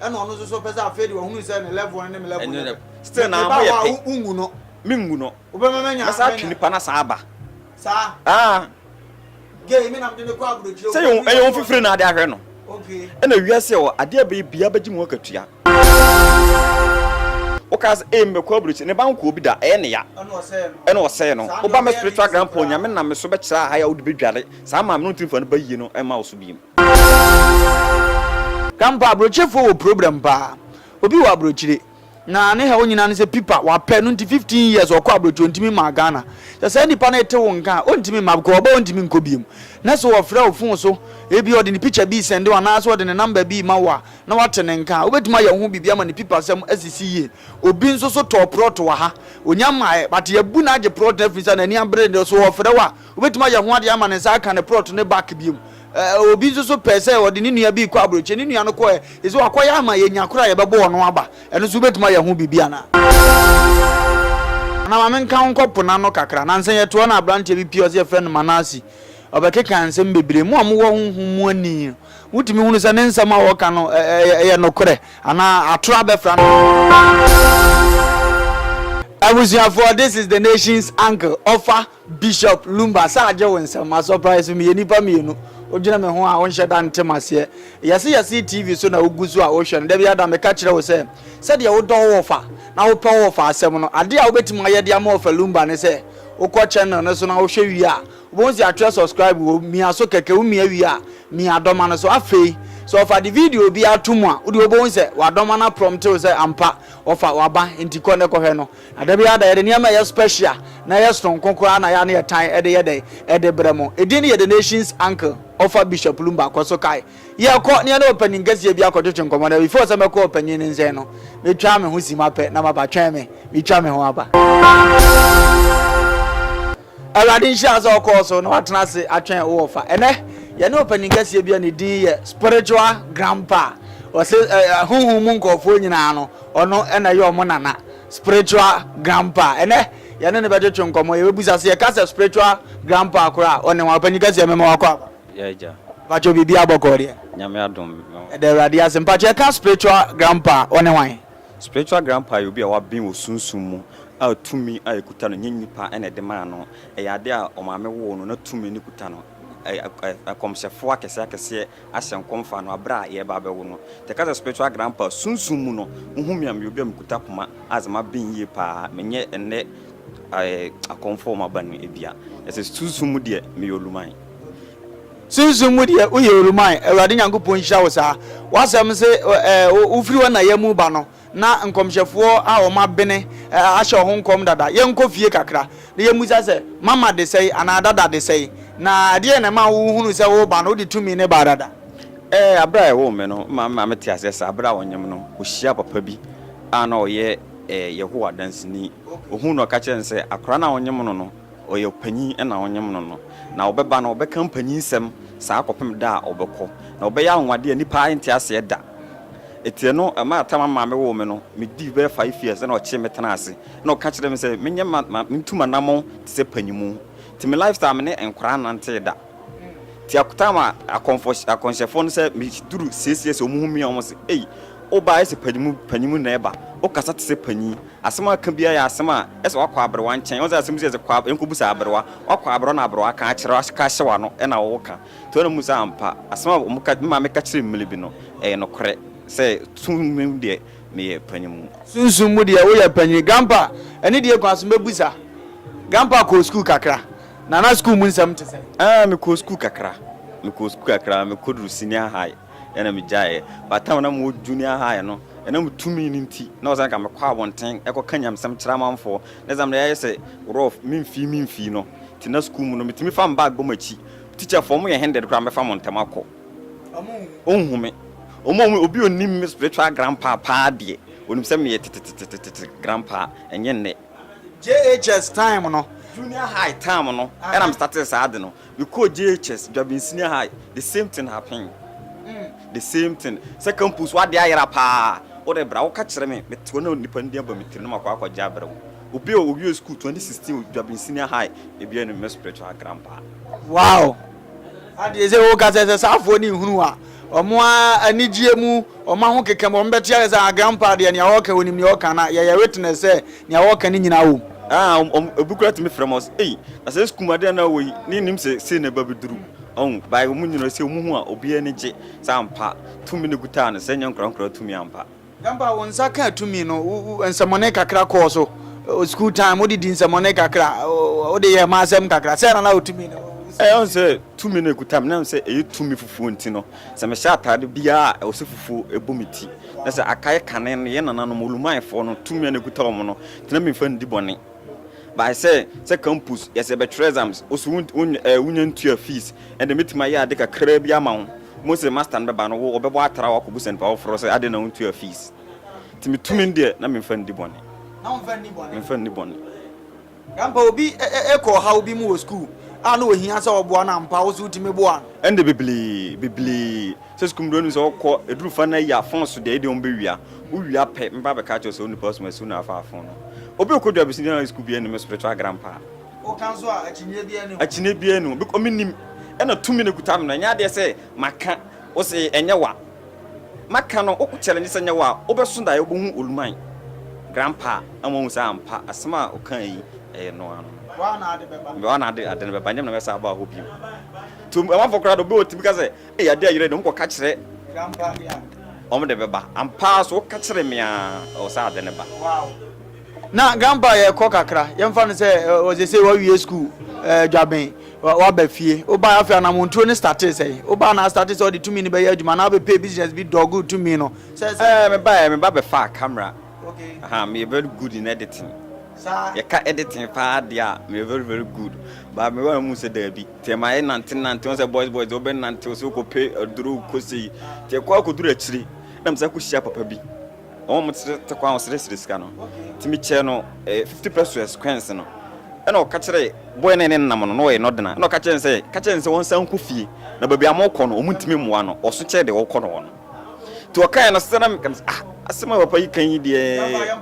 ɛna ɔno nso so pɛ sɛ afei de wahunu sɛ ne level no ne me level no yɛ pɛ still na ama yɛ pɛ wongu no mengu no wobɛma manya mɛsa atwe nipa na saa aba saa ah gay me nam de ne kɔ aburokyire sɛ yɛn ɛyɛ wɔn fifiri na ade ahwɛ no okay ɛna wia sɛ wɔ adeɛ bɛyɛ bia bɛgye mu akatua wokaa sɛ ɛyɛ mbɛkɔ aburokyire ne ba nkoɔ bi da ɛyɛ ne ya ɛna ɔsɛɛ no woba mɛ spiritual grandpa onyame nam me so bɛkyerɛ aha yɛ wode bɛdware saa maame no ntiri mfa no ba yie no ɛma wo so biem Kampa abrokyefoɔ wɔ problem paa. Obi wɔ abrokyire na ne haw nyinaa ne sɛ pipa wapɛ no nti 15 years ɔkɔ abrokyi ontimi maa Ghana. Sɛ saa nipa no ete wo nka a ontimi mma because ɔba ontimi nkɔ biom. Na sɛ ɔfrɛ wo phone so ebia ɔde ne picture bi sɛnde wo anaa sɛ ɔde ne number bi ma wo a na wate ne nka a wobetumi ayɛ wo ho biribi ama ne pipa sɛm asisi yie. Obi nso so tɔɔ prɔt wɔ ha. Onya mmaeɛ but yɛabu no agye prɔt no afiri nsa n'ani abere no so ɔfrɛ wo a Wobɛtumi ayɛ ho adeɛ ama ne nsa aka ne prɔt ne back biom. Obi nso so pɛɛ sɛ ɔde ne nua bi rekɔ aburokyire, ne nua no kɔɛ, ɛsɛ wakɔyɛ ama yɛnya koro a yɛbɛbɔ ɔno aba. Ɛno nso wobɛtumi ayɛ ho biribi anaa? Anaa ma menka wo nkɔ po no ano kakra. Nansa yi yɛtoa no aberanteɛ bi pie, ɔse yɛfrɛ no Manase. Ɔbɛkeka nsɛm bebree. Mo a mowɔ honhom mu ani no, wotumi hunu sɛ ne nsɛm a ɔreka no yɛ nokorɛ anaa atorɔ abɛfra no. Abusuafoɔ, this is the nation's uncle, ɔfa Bishop Lumba, sɛ agye wo nsɛm ma surprise so meyɛ nipa mmienu wodwene me ho a wonhyɛ da nte maseɛ. Yɛse yɛse TV so na wogu so a wohwɛ no. Da biara da meka kyerɛ wo sɛ sɛdeɛ wodɔ wo wɔfa na wopɛ wo wɔfa asɛm no, adeɛ a wobɛtumi ayɛ de ama Ɔfa Lumba ne sɛ wokɔ channel no so na wohwɛ wie a wobɛhu sɛ yɛatwerɛ subscribe wom, mia so kɛkɛ, womia wie a mia dɔma no so. Afei sɛ Ɔfa de video biara to mu a wodeɛ wobɛhu sɛ wadɔma no aprɔmte wo sɛ ampa Ɔfa waba enti kɔ ne kɔhwɛ no. Na da biara da yɛde nneɛma a ɛyɛ spɛhya na ɛyɛ sononko koraa na yɛa ne yɛtan de yɛ dɛn? De brɛ mo. Edin no yɛ The Nation's Uncle, ɔfa Bishop Lumba kɔ so kae. Yɛkɔ na yɛne ɔpanyin kɛseɛ bi akɔtwetwe nkɔmmɔ na before sɛ mɛkɔ ɔpanyin no nsɛn no, metwaa me ho simma pɛ na maba, twɛn me, metwa me ho aba. Awurade nhyira wo sɛ wokɔɔ so na woatena ase atwɛn wo wɔfa. Ɛnnɛ, yɛne ɔpanyin kɛseɛ bi a ne din yɛ Spiritual Grandpa. Ɔse ɛ, honhom mu nkurɔfoɔ nyinaa no, ɔno na ɛyɛ wɔn nana. Spiritual Grandpa. Ɛnnɛ, yɛne no bɛtwetwe nkɔmmɔ. Yɛbɛbisa sɛ, yɛka sɛ Spiritual Grandpa koraa a, ɔne hwan? Ɔpanyin kɛseɛ, mema wakɔ aba. Yeah, Agya. Mpakyɛ, biribiara bɔkɔɔ deɛ? Nyame adom. Yɛda Awurade ase. Mpakyɛ, yɛka Spiritual Grandpa a, ɔne hwan? Spiritual grandpa yɛ obi a waben wɔ sunsum mu a tumi a ɛkuta no nyɛ nnipa na ɛde maa no, ɛyɛ adeɛ a ɔmaame woo no na tumi no kuta no. Nkɔmhyɛfoɔ akɛseɛ akɛseɛ ahyɛ nkɔm faa no aberɛ a yɛreba abɛwo no. Nti yɛka sɛ spiritual grandpa a, sunsum mu no, wohu me a meyɛ obi a mekuta poma a sɛ maben yie pa ara a, menyɛ ɛnnɛ akɔmfoɔ a wɔaba no bi a, yɛsɛ sunsum mu deɛ meyɛ oluman. Sunsum mu deɛ woyɛ Oluman, Awurade Nyankopɔn nhyira wo saa. W'asɛm se wofiri hɔ na yamu ba no, na nkɔmhyɛfoɔ a wɔn abene ahyɛ wɔn ho nkɔm dada. Yɛnkɔ fie kakra na yɛmmisa sɛ, Mama de sɛn anaa Dada de sɛn? Na ɛdeɛn na ɛmaa wohunuu sɛ woreba no, wode tumi no baa dada? Ɛɛ, berɛ a wɔwoo me no, mama mama mete aseɛ saa. Berɛ a wɔnyem no, ɔhyiaa papa bi a na ɔyɛ Yehowa Danseni. Ɔhuu no na ɔka kyerɛɛ no sɛ, Akwadaa no a wɔnyem no no, Ɔyɛ ɔpanyin na ɔnyem no no. Na ɔbɛba no, ɔbɛka mpanyinsɛm saa kɔpem da a ɔbɛkɔ. Na ɔbɛyɛ anwonwade a nnipa nte aseɛ da. Etiɛ no, ɛmaa tam a maame woo me no, medii bɛyɛ five years ɛna ɔkyee me tenaa ase. Ɛna ɔka kyerɛɛ me sɛ menyɛ ma ma mentu m'anamɔn te sɛ panyimu. Nti me lifestyle me ne nkwadaa nnantee da. Nti ak time a akɔmfɔ akɔnhyɛfoɔ no sɛ meduru six years wɔn hu me a wɔn se ei wobaa ayɛ sɛ panyimu panyimu na ɛba. Wokasa te sɛ panyin. Asɛm a ɔka biara yɛ asɛm a ɛsɛ ɔakɔ aberewa nkyɛn. Ɔnnsɛ asɛm bi sɛ sɛ kɔ a nkɔ busa aberewa. Ɔakɔ aberewa na aberewa aka akyerɛ wo aka ahyɛ w'ano ɛna wo wo ka. Nti ɔna mu sɛ ampa asɛm a ɔmo ka me maame ka kyerɛ me mmerɛ bi no ɛyɛ nokorɛ sɛ sunsum mu deɛ me yɛ panyin mu. Sunsum mu deɛ wo yɛ panyin. Grandpa, ɛne deɛ kwan so mɛbusa. Grandpa kɔɔ sukuu kakra. Na na sukuu mu nsɛm te sɛn? Aah me kɔɔ sukuu kakra. Me kɔɔ sukuu kakra. Me kɔ duru senior high. Ɛna megyaeɛ. By the time na mewɔ junior high no, ɛna metumi no nti, na ɔsɛ nka mekɔ abɔnten kɔka nyamesɛm kyerɛ amanfoɔ. Na ɛsɛ sɛ mede ayɛ sɛ rough, memfii memfii no. Nti na sukuu mu no, metumi fa me bag bɔ m'akyi. Teacherfoɔ, wɔyɛ hindered koraa, wɔbɛfa mo ntɛm akɔ. Wɔnhu me. Wɔn a wɔhu me, obi a ɔnim me spiritual grandpa paa deɛ, ɔnim sɛ meyɛ tetetetetete grandpa, ɛnyɛ nnɛ. JHS time no. Junior high time no, ɛna me startee saa ade no. Me kɔɔ JHS, Dwabin Senior High, the same thing happen, the same thing, sɛ campus hɔ adeɛ ayera paa, wo de bra, wo ka kyerɛ me, me te hɔ na nipa no din aba me tirim na makɔ akɔ gye abrɛ wo. Obi a ɔwiee school 2016 Dwabin Senior High, ebi anim, me spiritual grandpa. Wow! Adeɛ sɛ wo ka sɛ, sɛ saa afoɔ no nhunu wo a, Ɔmo ara anigyeɛ mu, ɔmo ahokeka mu, ɔmo bɛte ayɛ sɛ, Ah, Grandpa deɛ, nea ɔɔka, onim nea ɔɔka, na yɛyɛ witness sɛ nea ɔɔka no nyinaa wom. Ah, ɔmo, ɔmo, obi koraa tumi frɛ me, ɔse, Ei, na saa sukuu mu adeɛ a na wowɔ yi, na nnim sɛ sei na ɛbɛbɛduru. Ɔhu? By ɔmo nyinaa, ɔse ɔmo hu a, obiara ani gye. Sɛ ampa, tumi na ɛkutaa no, sɛ ɛnyɛ nkwadaa nkwadaa tumi ampa. Grandpa wo nsa kaa tumi no nsɛmɔne kakra kɔɔ so school time wode di nsɛmɔne kakra wode yɛ ma asɛm kakra sɛ na na wo tumi no ɛyɛ sɛ tumi no ɛkutam na sɛ ɛyɛ tumi fufuo nti no sɛ mehyɛ ataade biara a ɛwɔ sɛ fufuo ɛbɔ me ti na sɛ aka yɛ kane no yɛ nananom olumanfoɔ no tumi a na ɛkuta wɔn no nti na memfa ndi bɔne by sɛ sɛ campus yɛsɛ bɛtwerɛ exams woso wonya ntua fees ɛnde mɛtumi ayɛ ade kakraa bi ama wo Mo se master no bɛba no wɔbɛbɔ atra wɔakɔbu sɛ nipa foforɔ sɛ adɛn na wontua fees nti me tumi no deɛ na memfa nni bɔne memfa nni bɔne. Grandpa obi kɔ ɔhaw bi mu wɔ sukuu a na ohia sɛ ɔboa no ampa wo so wotumi boa no? Ɛnde bebree bebree sɛ sukuu mu deɛ wonim sɛ wɔkɔ ɛduru fa no ayi a fon so deɛ ɛdeɛ wɔn bɛwia wowia pɛ meba abɛka akyerɛ wo sɛ wo nipa so ma asiw no afa afon no obi ɔkɔdwa abɛsi deɛ na sukuu biara nni me spiritual grandpa. Woka nso a, akyinnye biara nni ho. Akyinnye biara nni ho. Biko menim. Ɛna tumi na ekuta me no. Ɛnyɛ adeɛ sɛ maka. Wose ɛnyɛ wa. Maka no, wo challenge sɛ ɛnyɛ wa a, wobɛso daeɛ wobɛhu Oluman. Grandpa ama wahu sɛ ampa, asɛm a ɔkae yi, ɛyɛ no ara no. Waa na ade bɛba. Waa na ade no bɛba. Ɛnyɛ me na mɛsan aba hɔ bio. Nti amanfoɔ koraa deɛ, obi a ɔtumi ka sɛ, Ei, adeɛ ayera deɛ, monkɔka kyerɛ. Grandpa deɛ a. Wɔn de bɛba. Ampa ara so, woka kyere me ara, ɛwɔ sɛ ade no ba. Wow. Na grandpa yɛ kɔ kakra yɛnfa no sɛ ɔsɛ sɛ wawie school ɛɛ dwaben waba fie woba afei anamonturo ne startee sɛ woba na startee sɛ ɔde tumi no bɛyɛ adwuma na wobɛpɛ business bi dog tumi no sɛ sɛ. Ɛɛ me ba ɛɛ me ba bɛfaa camera okay aha me yɛ very good in editing saa yɛka editing paa deɛ a me yɛ very very good ba me wa mu sɛ daabi tɛ ma yɛ nante nante wɔn sɛ boys boys deɛ wɔbɛ nante wɔn sɛ wɔkɔ pɛ aduro kɔ sei tɛ kɔ akɔduru akyire na me sɛ kɔ hyia papa bi. na wɔn tete te kwan ɔsrɛsrɛ sika no nti me kyɛɛ no eh, 50 pesos coins no ɛna ɔka kyerɛ boy no ne nam no na ɔyɛ no dena ɛna ɔka kyerɛ no sɛ ka kyerɛ no sɛ wɔn san nkɔ fie na baabi a wɔkɔ no wɔn ntumi mmoa no ɔso kyerɛ deɛ ɔkɔ no hɔ no nti ɔkaeɛ no sɛ na meka no sɛ ah asɛm a papa yi kan yi deɛ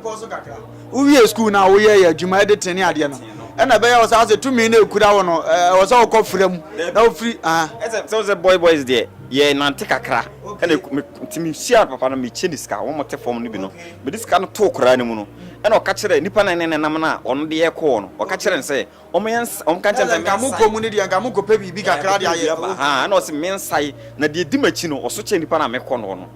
wowie sukuu no a woyɛ yɛ adwuma de tene adeɛ no ɛna ɛbɛyɛ wɔ saa sɛ tumi no ɛkura wo no ɛwɔ sɛ wokɔ fra mu na wofiri sɛ sɛ boy boys deɛ Yɛ nante kakra ɛna me nti me hyiaa papa no me kyɛ ne sika wɔn te fam no bi no me de sika no too koraa no mu no ɛna ɔka kyerɛ nipa na ɛne nenam no a ɔno de yɛ kɔɔ no ɔka kyerɛ no sɛ wɔn yɛ nsa wɔn ka kyerɛ sɛ nka mo kɔ mu no deɛ nka mo kɔ pɛ biribi kakra de ayɛ ɛwɔ ha ɛna ɔsi me nsa yi na deɛ di m'akyi no ɔso kyɛ nipa na me kɔ no no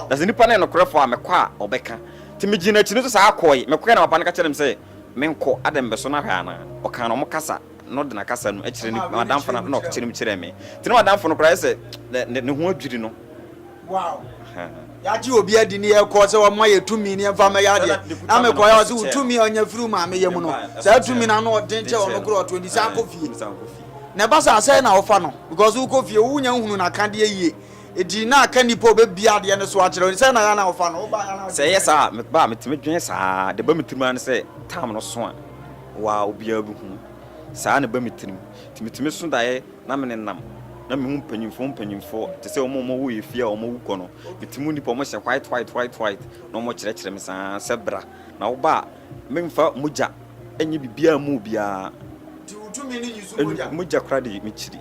na sɛ nipa no yɛ nokorɛ fo a me kɔ a ɔbɛka ti me gyina akyi no so saa kɔɔ yi me kɔɛ na papa no ka kyerɛ me sɛ me nkɔ adɛ mbɛso no ahwɛ anaa ɔka no wɔn kasa. no de n'akasa no kyerɛ ne madamfo no, ɛnna ɔkyerɛ mu kyerɛɛ me. Nti na madamfo no koraa ayɛ sɛ ne ne ho adwiri no. Wow. Yɛagye obi adi ne yɛkɔ sɛ wɔmma yɛ tumi ne yɛmfa mmɛyɛ adeɛ. Na mekɔyɛ ɔse wo tumi a ɔnya firi wo maame yam no, saa tumi no ano ɔden kyɛ ɔno korɔ ɔto nti san kɔ fie. Na ɛba sɛ asɛe na wofa no because wokɔ fie wonya nhunu n'akadeɛ yie. Eti na aka nipa obebia adeɛ no so akyerɛ sɛ na ya na ɔfa no woba ya na sɛ ɛyɛ saa a meba a metumi dwen saa de ba me tirim ara ne sɛ tam no so a Wa obiara behu me. Saa na ɛba me tirim. Nti metumi so daeɛ na menenam na mehu mpanyimfoɔ mpanyimfoɔ te sɛ wɔn a wɔwɔ yɛn fie a wɔawu kɔ no. Mete mu nnipa a wɔhyɛ white white white white na wɔkyerɛkyerɛ me saa ara sɛ bra na woba a memfa mogya nyɛ biribiara mma obiara. Mogya koraa de mekyiri.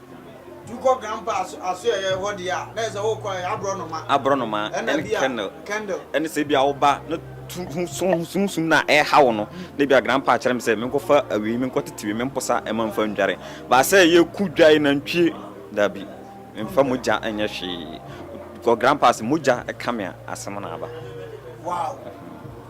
Tu kɔ Grandpa aso ɛyɛ hɔ deɛ a na yɛ sɛ wokɔ ɛyɛ aborɔnoma. Aborɔnoma ɛne candle. Candle. Ɛne sɛ ebi a woba na tu ho sum sum na ɛha wo no na ebi a Grandpa kyerɛ me sɛ menkɔfa awi menkɔtete wi memposa ɛma mfa ndware. Ba sɛ yɛku dwae nantwie daabi mfa mogya nyɛ hwee. Kɔ Grandpa ase mogya ɛka me a asɛm na aba. Wow.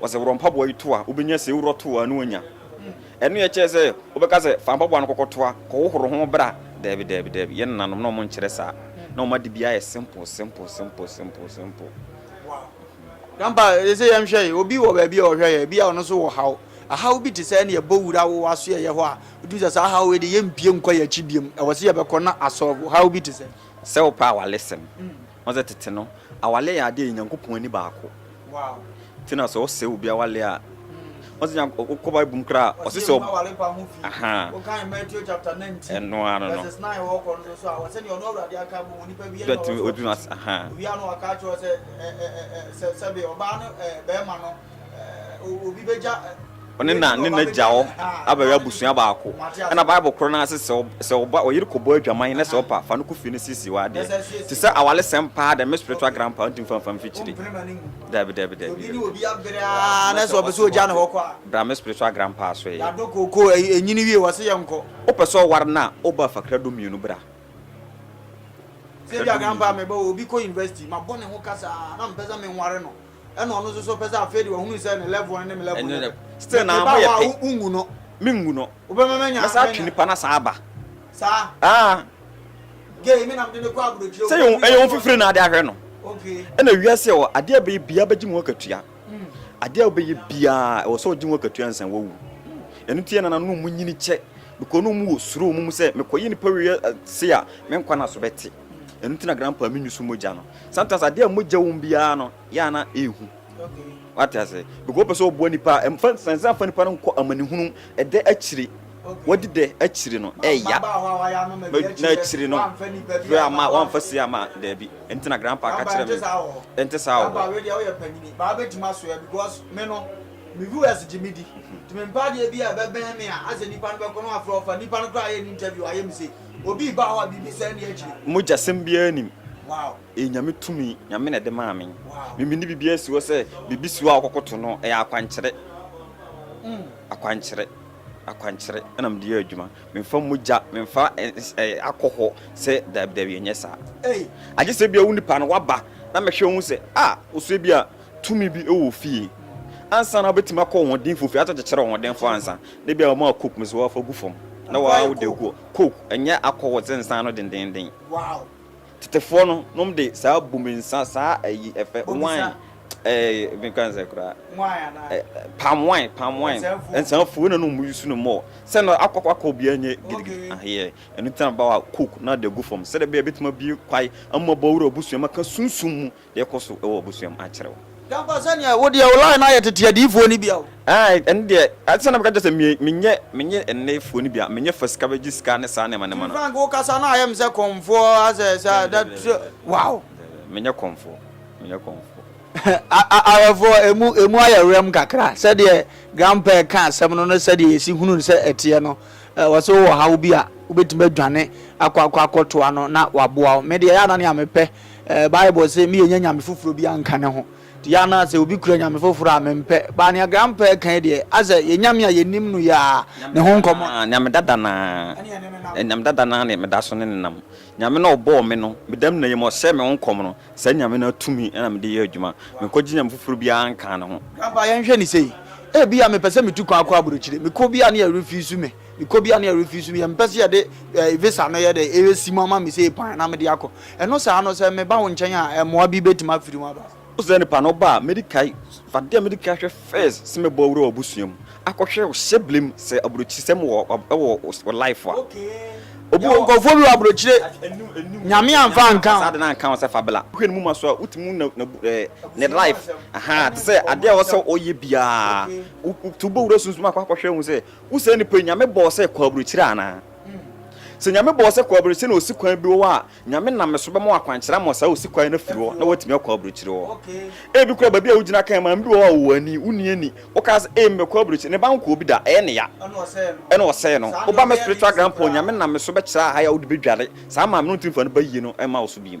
Wɔsɛ worɔ mpaboa yi toa, wobɛnya sei, worɔ toa na woanya. Ɛno yɛ kyɛɛ sɛ wobɛka sɛ fa mpaboa no kɔkɔ toa, kɔ hohoro ho bra. Daabi, daabi, daabi. Yɛn nananom na wɔn nkyerɛ saa. Na wɔn ade biara yɛ simple, simple, simple, simple, simple. Wow. Grandpa, yɛsɛ yɛn hwɛ yi, obi wɔ baabi a ɔhwɛ yɛ, ebi a ɔno nso wɔ haw. Ahaw bi te sɛ ɛne ɛbɔ wura wo asoɛyɛ hɔ a, wotum sɛ saa ahaw wei de yɛmpie nkɔ yɛn akyi biom. Ɛwɔ sɛ yɛbɛkɔ na asɔlvo haw bi te sɛ. Sɛ wopɛ a wale sɛm. Ɔsɛ tete no awale yɛ ade a Nyankopɔn ani baako nti na sɛ ɔsɛ obi awale a ɔsɛ Nyank ɔkɔ Bible mu koraa ɔsɛ sɛ ɔb ahaa ɛno ano no bɛtumi ɔtumi ahaa. ɔne na ne n'agya hɔ abɛyɛ abusua baako ɛna bible korɔ no ase sɛ sɛ ɔba ɔyere kɔbɔ adwaman na sɛ ɔpa fa no kɔ fie no siesie wɔ adeɛ te sɛ awale sɛm paa dɛ me spiritual grandpa ɔnti mfa mfa mfikyiri dabi dabi dabi na sɛ ɔpɛ sɛ ɔgya ne hɔ kɔ a bra me spiritual grandpa so yɛ yɛadɔ koko ɛnyini wie wɔ se yɛ nkɔ wopɛ sɛ ɔware no a woba fakra du mmienu bra sɛ bia grandpa meba obi kɔ university mabɔ ne ho kasa na mpɛ sɛ menware no ɛna ɔno nso so pɛ sɛ afei de wahunu sɛ ne level ne me level ɛno dɛ still na ama yɛ pe wongu no mengu no wobɛma manya mɛsa atwe nipa no saa aba saa ah gay me nam de ne kɔ aburokyire sɛ yɛn ɛyɛ wɔn fifiri na ade ahwɛ no okay ɛna wiase wɔ adeɛ bɛyɛ bia bɛgye mu akatua hmm. adeɛ bɛyɛ biaa ɛwɔ sɛ ɔgye mu akatua nsan wawu ɛno nti ɛna nanom mu nyini kyɛ because no mu wɔ suro mu sɛ mekɔyɛ nipa wei eh, se a menkwa no so bɛte Ɛno nti na grandpa mi nyusu mogya no. Sometimes adeɛ a mogya wom biara no yɛ a na ɛhu. Wate ase? Because wopɛ sɛ ɔboa nipa a ɛmfa sansan fa nipa no nkɔ amanehunu ɛdɛ akyiri. Wadi dɛ akyiri no ɛya. Na akyiri no fɛ ama wamfa si ama daabi. Ɛno nti na grandpa ka kyerɛ me. Ɛnte saa wɔ hɔ. Grandpa wei deɛ woyɛ panyini. Baa bɛtumi asoɛ because me no me viewers gye me di. Nti mempɛ adeɛ bi a ɛbɛbɛn me a asɛ nipa no bɛkɔ na wafrɛ ɔfa. Nipa no koraa yɛ no interview wayɛ mistake. Obi reba hɔ a biribi nsɛ nni akyire. Mogyasɛm biara nnim. Ɛyɛ Nyame tumi, Nyame na ɛde maa me. Me mede biribiara si hɔ sɛ biribi si hɔ a wokɔkoto no, ɛyɛ akwankyerɛ. Akwankyerɛ, akwankyerɛ na mede yɛ adwuma. Memfa mogya, memfa akɔhɔ sɛ daabi daabi ɛnyɛ saa. Agyesɛ ebia wo nipa no waba na mɛhwɛ wohu sɛ ah, wo so ebia. tumi bi wɔ fie ansa na wobɛtumi akɔ ɔhoɔdenfo fie ato kyekyere ɔhoɔdenfo ansa na ebia wɔn a coke mu sɛ wɔafa gu fam na wɔawo de gu coke ɛnyɛ akɔhɔ sɛ nsa no dendenden tetefoɔ no nom de saa bumi nsa saa ayi ɛfɛ wine ɛɛ mekan sɛ koraa palm wine palm wine nsa fuo na no mu yusu no mɔ sɛ no akɔkɔ akɔ obiara nyɛ gidigidi aheɛ ɛno tena ba wa coke na de gu fam sɛ de bɛyɛ bɛtumi abie kwae ama bɔwura abusua maka sunsum mu Deɛ ɛkɔ so wɔ w'abusua mu akyerɛ wo. Yɛ ampa sɛ neɛ wo deɛ wo line no ayɛ tete adiyifoɔ no bia o. Aai ɛno deɛ ade sɛ na meka kyerɛ sɛ me menyɛ menyɛ nnefoɔ no bia menyɛ fa sika bɛgye sika ne saa nneɛma nneɛma King no. Frank wo kasa no ayɛ me sɛ kɔmfoɔ asɛ sɛ Daabi daabi daabi daabi daabi wow. daabi daabi daabi menyɛ kɔmfoɔ menyɛ kɔmfoɔ. Awɛfoɔ ɛmu ɛmu ayɛ werɛm kakra sɛdeɛ grandpa reka asɛm no ne sɛdeɛ yɛsi hunu no sɛ ɛteɛ no wɔ sɛ wowɔ haw bi a wobɛtumi adwane akɔ akɔ akɔtoa no na waboa wo me deɛ ɛyɛ a na nea mepɛ Ɛɛ, Bible se meyɛnya nyame foforɔ bi anka ne ho. Nti yɛ ana sɛ obi kura nyame foforɔ a, mempɛ. But nea Grandpa reka yi deɛ, ayɛ sɛ yɛn nyame a yɛnim no yɛ ara ne ho nkɔmmɔ. Nyame dada no ara, nyame dada no ara. Ɛne yɛn ne no nam. Nyame dada no ara na meda so ne no nam. Nyame no a ɔbɔɔ me no, meda mu na yɛ mu a ɔsɛe me ho nkɔm no, saa nyame no ara tumi na mede yɛ adwuma. Menkɔgye nyame foforɔ biara nka ne ho. Grandpa, yɛnhwɛ no sei. Ebia mepɛ sɛ metu kwan kɔ aburokyire. Mekɔ bi a na yɛrefeesu me. Mekɔ bi a na yɛrefeesu me. Yɛmpɛ sɛ yɛde visa no yɛ dɛn, ɛresi mu ama me sei pan na mede akɔ. Ɛno saa no, sɛ meba wo nkyɛn a, mmoa bi betumi afiri mu aba. Ɔsɛ nipa no ba a, medi kae fa deɛ medi kae hwɛ first sɛ mɛbɔ awura w'abusua mu akɔhwɛ wo hyɛbile mu sɛ aburokyisɛm wɔ wɔ wo life a. Obi wɔ. Yɛwɔ nkorɔfoɔ bi wɔ aburokyire, Nyame anfa anka ho. Saa ade no anka ho sɛ fa bla. Wohwɛ ne muma so a, wotumi hu na na bu ɛɛ ne life ahaa te sɛ adeɛ a ɛwɔ sɛ ɔyɛ biara. Wo wo to bɔ wura sunsum akɔ akɔhwɛ hu sɛ wo saa nipa yi Nyame bɔɔ sɛ kɔ aburokyire anaa. Sɛ Nyame bɔɔ sɛ kɔaburokyire na osikwan bi wɔ hɔ a, Nyame nam me so bɛma wo akwankyerɛ ama saa osikwan no afiri hɔ na woatumi akɔ aburokyire hɔ. Ebi koraa baabi a wogyina kan maame bi wɔ hɔ a ɔwɔ ani, wonni ani, wokaa sɛ, Ei, mebɛkɔ aburokyire, ne ba nkɔɔ bi da, ɛyɛ ne ya, ɛna ɔsɛe no. Wo ba, me spiritual grandpa, Nyame nam me so bɛkyerɛ aha yi a wode bɛdware, saa maame no ntumi mfa ne ba yie no mma wo so bio.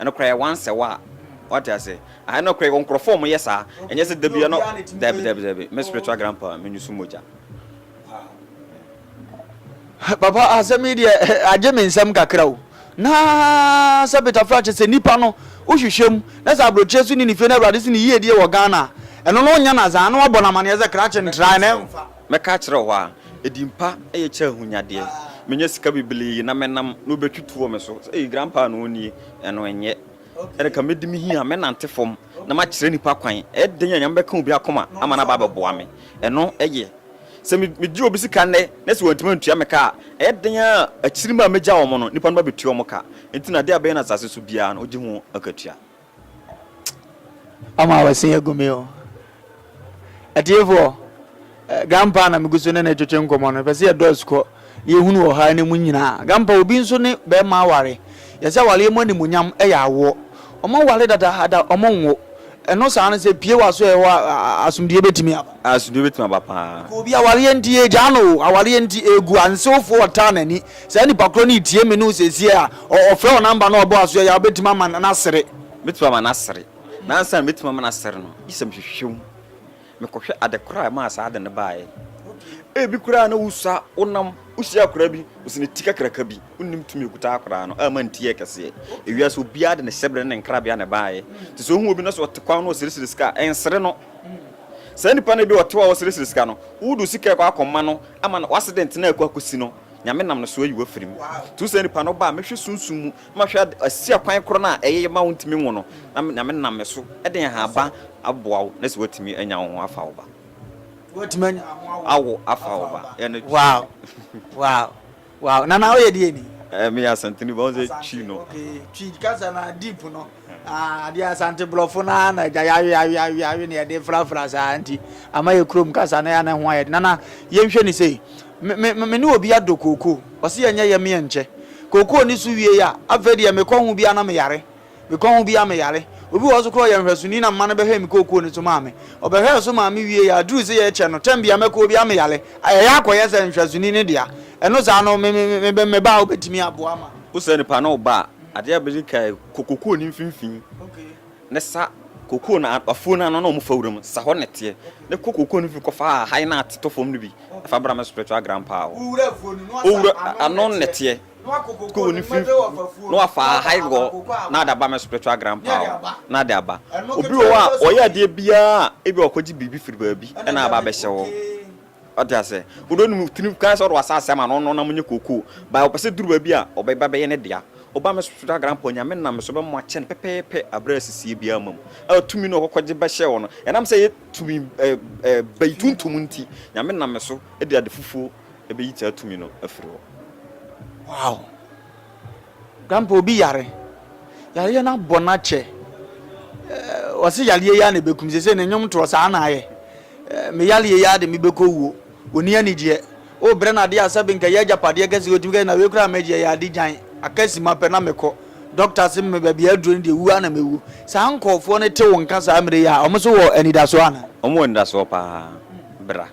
Ɛno koraa yɛ once a while. Wate ase? Ah, ɛno koraa yɛwɔ nkurɔfoɔ a wɔyɛ saa. Ɛnyɛ sɛ da biara no, dabi, dabi, dabi. Me spiritual grandpa, menyusu mogya. Papa, asɛm yi deɛ, agye me nsam kakra o. Na sɛ Peter Fry kyɛ sɛ nnipa no, wohwehwɛ mu, na sɛ aburokyire so ne ne fie na Awurade so ne yiedie wɔ Ghana a, ɛno no wonya no adze a, na wabɔ no amaneɛ sɛ krakye ntrae na ɛmfa. Mɛka akyerɛ wo a, edin pa ye kyɛn ahonyadeɛ. Menya sika bebree na mɛnam na wobɛtwi to wɔ me so sɛ, 'Ei, Grandpa na ɔwɔ nie? Ɛno ɛnyɛ. Ɛnna ka mɛdi me hia, mɛnante fam, na makyerɛ nnipa kwan. Ɛyɛ dɛn a Nyame bɛka obi akoma ama no aba abɛboa me? Ɛno ye. Sɛ megye obi sika nnɛ na sɛ wantumi antua me ka a, ɛyɛ dɛn a akyiri mma a mɛgya wɔn no, nnipa no ba bɛtua wɔn ka? Enti no, adeɛ a ɛbɛyɛ no asase so biara no, wogye ho akatua. Ɔmo a wɔasen agu me o. Atiefoɔ, Grandpa na megu so ne no retwetwe nkɔmmɔ no, pɛ sɛ yɛdɔɔso kɔ yɛhunu wɔ ha no mu nyinaa. Grandpa, obi nso ne bɛrima aware. Yɛsɛ awareɛ mu animuonyam yɛ awoɔ. Ɔmo ware dadaada, ɔmo nwo. Ɛno saa no sɛ pue w'asoɛɛ hɔ a, asomdwoeɛ bɛtumi aba. Asomdwoeɛ bɛtumi aba paa. Nka obi, awareɛ nti yɛregyaa no o, awareɛ nti ɛregu, ansewfoɔ ɔtaa n'ani. Saa nipa korɔ no retie me no seesei a, ɔfrɛ wo number na ɔbɔ aso yɛ a, wobɛtumi ama no asere? Mɛtumi ama no asere, na ansa na mɛtumi ama no asere no, gye sɛ mehwehwɛ mu, mekɔhwɛ ade korɔ a ɛmaa saa ade no baeɛ. Ebi koraa na wosua, wonam, wohyia akwadaa bi, ɔsi ne ti kakraka bi, wonnim tumi a ɛkuta akwadaa no ama ne ti yɛ kɛseɛ. Ewiase obiara de ne hyɛbrɛ ne ne nkrabea na ɛbaeɛ. Nti sɛ wohu obi na sɛ ɔte kwan na ɔseresere sika a, ɛnsere no. Saa nipa no ebi a ɔte hɔ a ɔreseresere sika no, wode wo sika rekɔ akɔma no ama no, w'accident no a ɛrekɔ akɔsi no, Nyame nam no so ayi wo afiri mu. To saa nipa no ba a, mɛhwɛ sunsum mu na mahwɛ asi akwan korɔ no a ɛyɛ ma wontumi nwo no, na Nyame nam me so de nhaban aboa wo na sɛ woatumi anya wo ho afa wo ba. Woatumi anya wo ho awo afa wo ba. Wow! Wow! Wow! Nana, woyɛ deɛ ni? Eh, meyɛ Asanteni, but wo sɛ Twi no. Okay, Twi kasa no a, deep no. Ah adeɛ Asante brɔfo no ara na agya yawe yawe yawe yawe na yɛde frafra saa nti ama yɛ kurom kasa no yɛ na ho ayɛ de nana yɛnhwɛ ne sei me me me ne obi adɔ kookoo ɔse yɛnyɛ yɛ meɛ nkyɛ kookoo ne so wie a afei deɛ mekɔ ho biara na meyare mekɔ ho biara meyare obi wɔ hɔ so korɔ yɛ nhwɛsoni na mma no bɛhwɛ me kookoo ne so maa me ɔbɛhwɛɛ so maa me wie yɛ aduru sɛ yɛkyɛ no tɛm bia mɛkɔ obiara meyare ɛyɛ akɔyɛ sɛ nhwɛsoni ne dea ɛno saa no me me me me ba a wobɛtumi aboa ma Wosɛ nipa ne wo ba a, Adeɛ a bɛdi kan yɛ, kɔ kokoo no mfimfini ne sa kokoo no afuo no ano na wɔfa wuram sa hɔ na teɛ ne kɔ kokoo no mfimfini kɔfa ahahan a atetɔ fam no bi fa bra me spiritual grandpa hɔ. Wowura ano na teɛ kokoo no mfimfini na wafa ahahan hɔ na ada ba me spiritual grandpa hɔ na ade aba. Obi wɔ hɔ a ɔyɛ adeɛ biara a ebi a ɔkɔgye biribi firi baabi na aba abɛhyɛ hɔ. Wate aseɛ? Wode ne mu tiri kan sɛ wode w'asaase ama no, ɔno na monyɛ kookoo. But ɔpɛ sɛ duru baabi a, ɔbɛba bɛyɛ ne dea. Woba me so da Granpa, Onyame nam me so bɛma wakyɛ no pɛpɛɛpɛ aberɛ a asisie biara mma mu. Ɛwɔ tumi no a ɔkɔkɔgye bɛhyɛɛ hɔ no, ɛnam sɛ ɛyɛ tumi ba yi tuntum nti, Nyame nam me so de ade fufuo bɛyi saa tumi no afiri hɔ. Wow! Grandpa obi yare, yareɛ no abɔ no akyɛ, ɔse yareɛ yi ara na ɛbɛkum, sesei ne nnwom toɔ saa na ayɛ, me yareɛ yi ara de mebɛkɔ wuo, ɔnni anigyeɛ, wobrɛ no adeɛ a sɛbe nka ɛyɛ agyapadeɛ kɛseɛ, ɔtumi ka sɛ na wei koraa mɛgye ɛyɛ ade gyan, aka sima pɛ na mekɔ, dɔkta se me baabi a aduro no deɛ wuo ara na mɛwuo. Saa nkorɔfoɔ no te wo nka saa mmerɛ yi a, wɔn nso wɔ anidasoɔ anaa? Wɔn wɔ anidasoɔ paa, bra.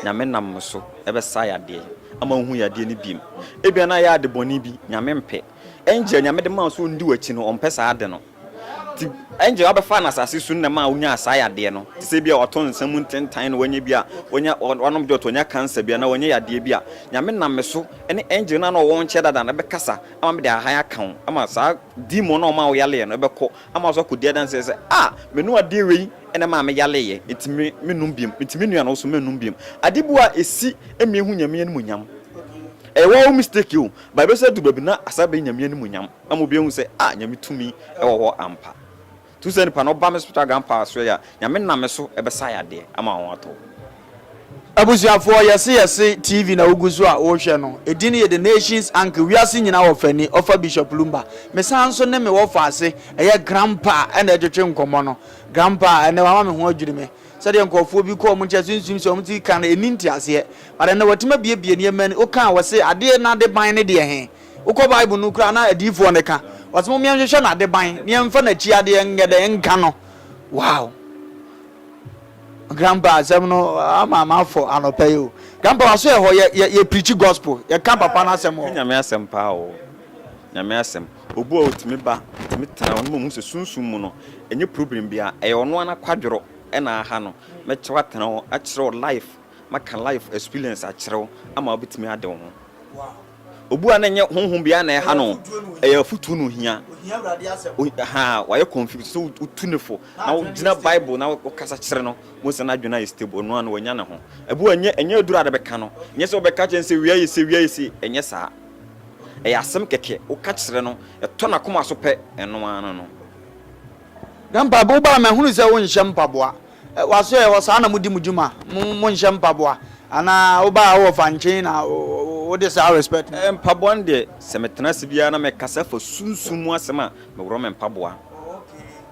Nyame nam mo so bɛsa yadeɛ ama wohu yadeɛ no biem. Ebia na ayɛ ade bɔne bi, Nyame mpɛ. Angel a Nyame de maa wo sɛ ɔndi w'akyi no, ɔmpɛ saa ade no. Nti angel a ɔbɛfaa no asase so no na ɛmaa wonyaa saa yadeɛ no. Te sɛ ebia wato nsa mu ntentan na wanya bi a, wanya, wanom dwɔto, wanya cancer bi anaa wanya yadeɛ bi a, Nyame nam me so ne angel no a na ɔwɔ wo nkyɛn dada no bɛkasa ama mede ahan aka wo ama saa demon no a ɔmaa wo yareɛ no bɛkɔ. Ama so akɔdi adanseɛ sɛ, A! Menu adeɛ wei na ɛmaa me yareeɛ, enti me, mennom biom, enti me nua no nso mennom biom. Ade bu a ɛsi mmie ho Nyame animuonyam. Ɛyɛ wo ara wo mistake o, but ɛbɛsan adu baabi na asan abɛyɛ Nyame animuonyam, ama obi ahu sɛ, Ah! Nyame tumi wɔ hɔ ampa. Nti wo saa nipa no, wo ba me spiritual grandpa asoɛeɛ a, Nyame nam me so bɛsa yadeɛ ama wo ho atɔ wo. Abusuafoɔ, yɛse yɛse TV na wogu so a worehwɛ no, ɛdin no yɛ The Nations Anchor, Wiase Nyinaa Ɔfani, ɔfa Bishop Lumba. Mesan nso ne me wɔfaase, ɛyɛ Grandpa na ɛretwetwe nkɔmmɔ no. Grandpa, ɛnnɛ wama me ho adwiri me. Sɛdeɛ nkorɔfoɔ bi kɔ wɔn nkyɛn sunsum sɛ wɔn ti ka no, ɛnni nteaseɛ. But ɛnnɛ watumi abuebue nneɛma ani, woka a ɔse adeɛ no adeban no deɛ he? Wokɔ Bible no koraa na adiyifoɔ no ka, wɔse mom yɛnhwehwɛ n'adeban na yɛmfa n'akyi adeɛ nyɛ dɛn nka no. Wow! Grandpa asɛm no ama mafɔ anɔpa yi o. Grandpa waso yɛ hɔ yɛ yɛ yɛ preachi gospel yɛ ka papa no asɛm wɔ hɔ. Nyame asɛm paa o Nyame asɛm obu a otumi ba otumi tena hɔ na mahu sɛ sunsum mu no ɛnyɛ problem bia ɛyɛ ɔno ara nakwadworo ɛna aha no mɛkyerɛw atena hɔ akyerɛ wo life maka life experience akyerɛ wo ama wobɛtumi ade wo ho. Obu a na ɛnyɛ honhom biara na ɛha no, ɛyɛ afotu na ohia. Ohia Awurade asɛm. Wayɛ confused sɛ wotu no fo na wogyina Bible na wokasa kyerɛ no. Wohu sɛ n'adwene ayɛ stable, ɔno ara no wanya ne ho. Ɛbo a ɛnyɛ ɛnyɛ aduru a wobɛka no, ɛnyɛ sɛ wobɛka kyerɛ no sɛ wia yɛ sei, wia yɛ sei, ɛnyɛ saa. Ɛyɛ asɛm kɛkɛ, woka kyerɛ no, ɛtɔ n'akoma so pɛ, ɛno ara no. Grandpa, bi wɔ hɔ a mahunu sɛ wonhyɛ mpaboa. W'asoɛɛ hɔ saa na modi mo dwuma mo mo nhyɛ mpaboa anaa wobaa hɔ wɔ fankyen na wode saa respect no. Mpaboa no deɛ sɛ me tena ase biara na me kasa fa sunsum mu asɛm a me worɔ me mpaboa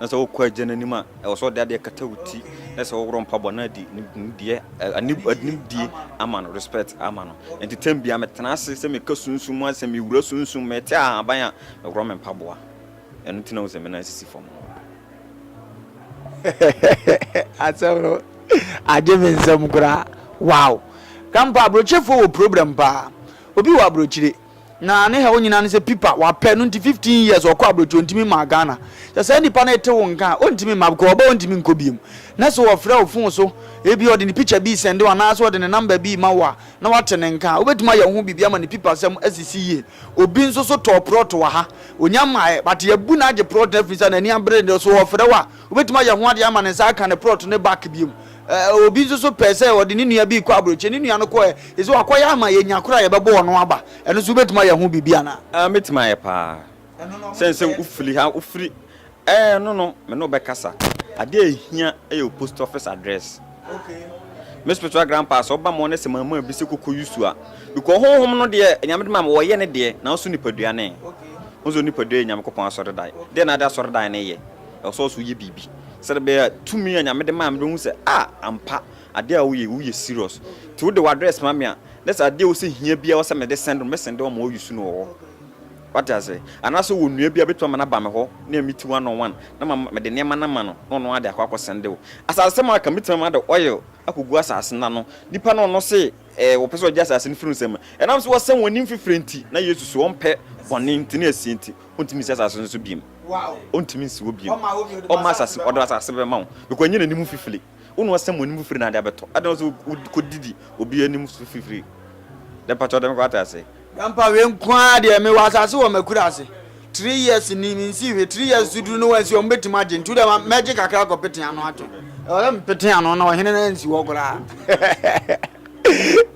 na sɛ wo kɔ agya no anim a ɛwɔ sɛ ɔde adeɛ kata wo ti na sɛ wo worɔ mpaboa na adi nimdeɛ animdie ama no respect ama no nti time biara me tena ase sɛ me ka sunsum mu asɛm me wura sunsum me te ahaban a me worɔ me mpaboa. Ɛno nti na wohu sɛ me nan sisi fam no. Asɛm no agye me nsam koraa. Wow! Grandpa, aburokyefoɔ wɔ problem paa. Obi wɔ aburokyire, na ne haw nyinaa ne sɛ pipa wapɛ no nti 15 years ɔkɔ aburokyire ɔntumi mmaa Ghana. Sɛ saa nipa no ete wo nka a, ɔntumi mma because ɔba ɔntumi nkɔ biom. Na sɛ ɔfrɛ wo phone so, ebi ɔde ne picture bi sɛnde wo anaasɛ ɔde ne number bi ma wo a, na wate ne nka a, wobɛtumi ayɛ wo ho biribi ama ne pipasɛm asisi yie. Obi nso so tɔɔ prɔt wɔ ha. Ɔnya mmaeɛ, but yɛabu no agye prɔt no afiri sɛ n'ani abere no. So ɔfrɛ wo a, wobɛtumi ayɛ ho adeɛ ama ne nsa aka ne prɔt no back biom. Eh, obi nso so pɛɛ sɛ ɔde ne nua bi rekɔ aburokyire, ne nua no kɔɛ, ɛsɛ wakɔyɛ ama yɛnya koro a yɛbɛbɔ ɔno aba. Ɛno nso wobɛtumi ayɛ ho biribi anaa? Ah, mɛtumi ayɛ paa. Sɛne sɛ wofiri ha, wofiri Ɛɛ no no me ne wo bɛkasa. Adeɛ a ɛhia yɛ wo post office address. Me spiritual grandpa sɛ ɔba mɔ ne sɛ mama bi sɛ kɔkɔ yusu a bikɔ honhom no deɛ nyame de ma me wɔyɛ ne deɛ nanso nipadua ne wohu sɛ onipadua yɛ nyamekopɔn asɔredan deɛ na ade asɔredan ne yɛ ɛwɔ sɛ ɔso yɛ biribi sɛde bɛyɛ tumi a nyame de ma me bɛhu sɛ a ampa adeɛ a woyɛ woyɛ serious ti wode w'address ma me a ne sɛ adeɛ wɔ sɛ hia bia wɔ sɛ mede send no me send wɔn wɔn yusu no wɔ hɔ. Wate ase? Anaasɛ ɔwɔ nnua bi a ɔbɛtumi ama no aba me hɔ, na ɛyɛ me ti one on one, na ma, mede nneɛma no ama no, na ɔno ara de akɔ akɔsɛndew. Asasesɛm a aka, mɛtumi ama de oil akɔgu asase no ano. Nnipa no ɔno se ɛɛ, wɔpɛ sɛ ɔgye asase no firi wo nsam. Ɛnam sɛ wɔasɛm wɔn anim fifire nti, na Yesu so ɔmpɛ bɔne nti, ne asie nti, ɔntumi nsi asase no so bio. Ɔntumi nsi hɔ bio. Ɔmma asase, ɔde asase bɛma wo, because ɛnyɛ n'anim fifire. Wo na wɔasɛm w'anim fifiri na ade abɛtɔ. Adɛn na ɔsɛ wokɔdidi obi anim so fifiri? Dɛ mpakyɛw dɛ me kwata ase. Grandpa wei nko ara deɛ mewɔ asase wɔ makurase three years ni mensii hwee three years so duru no wansi hɔ mobɛtumi agye nti wodɛ mɛgye kakra akɔ pete ano atwe ɛwɔ sɛ mepete ano na ɔhene no ansi hɔ koraa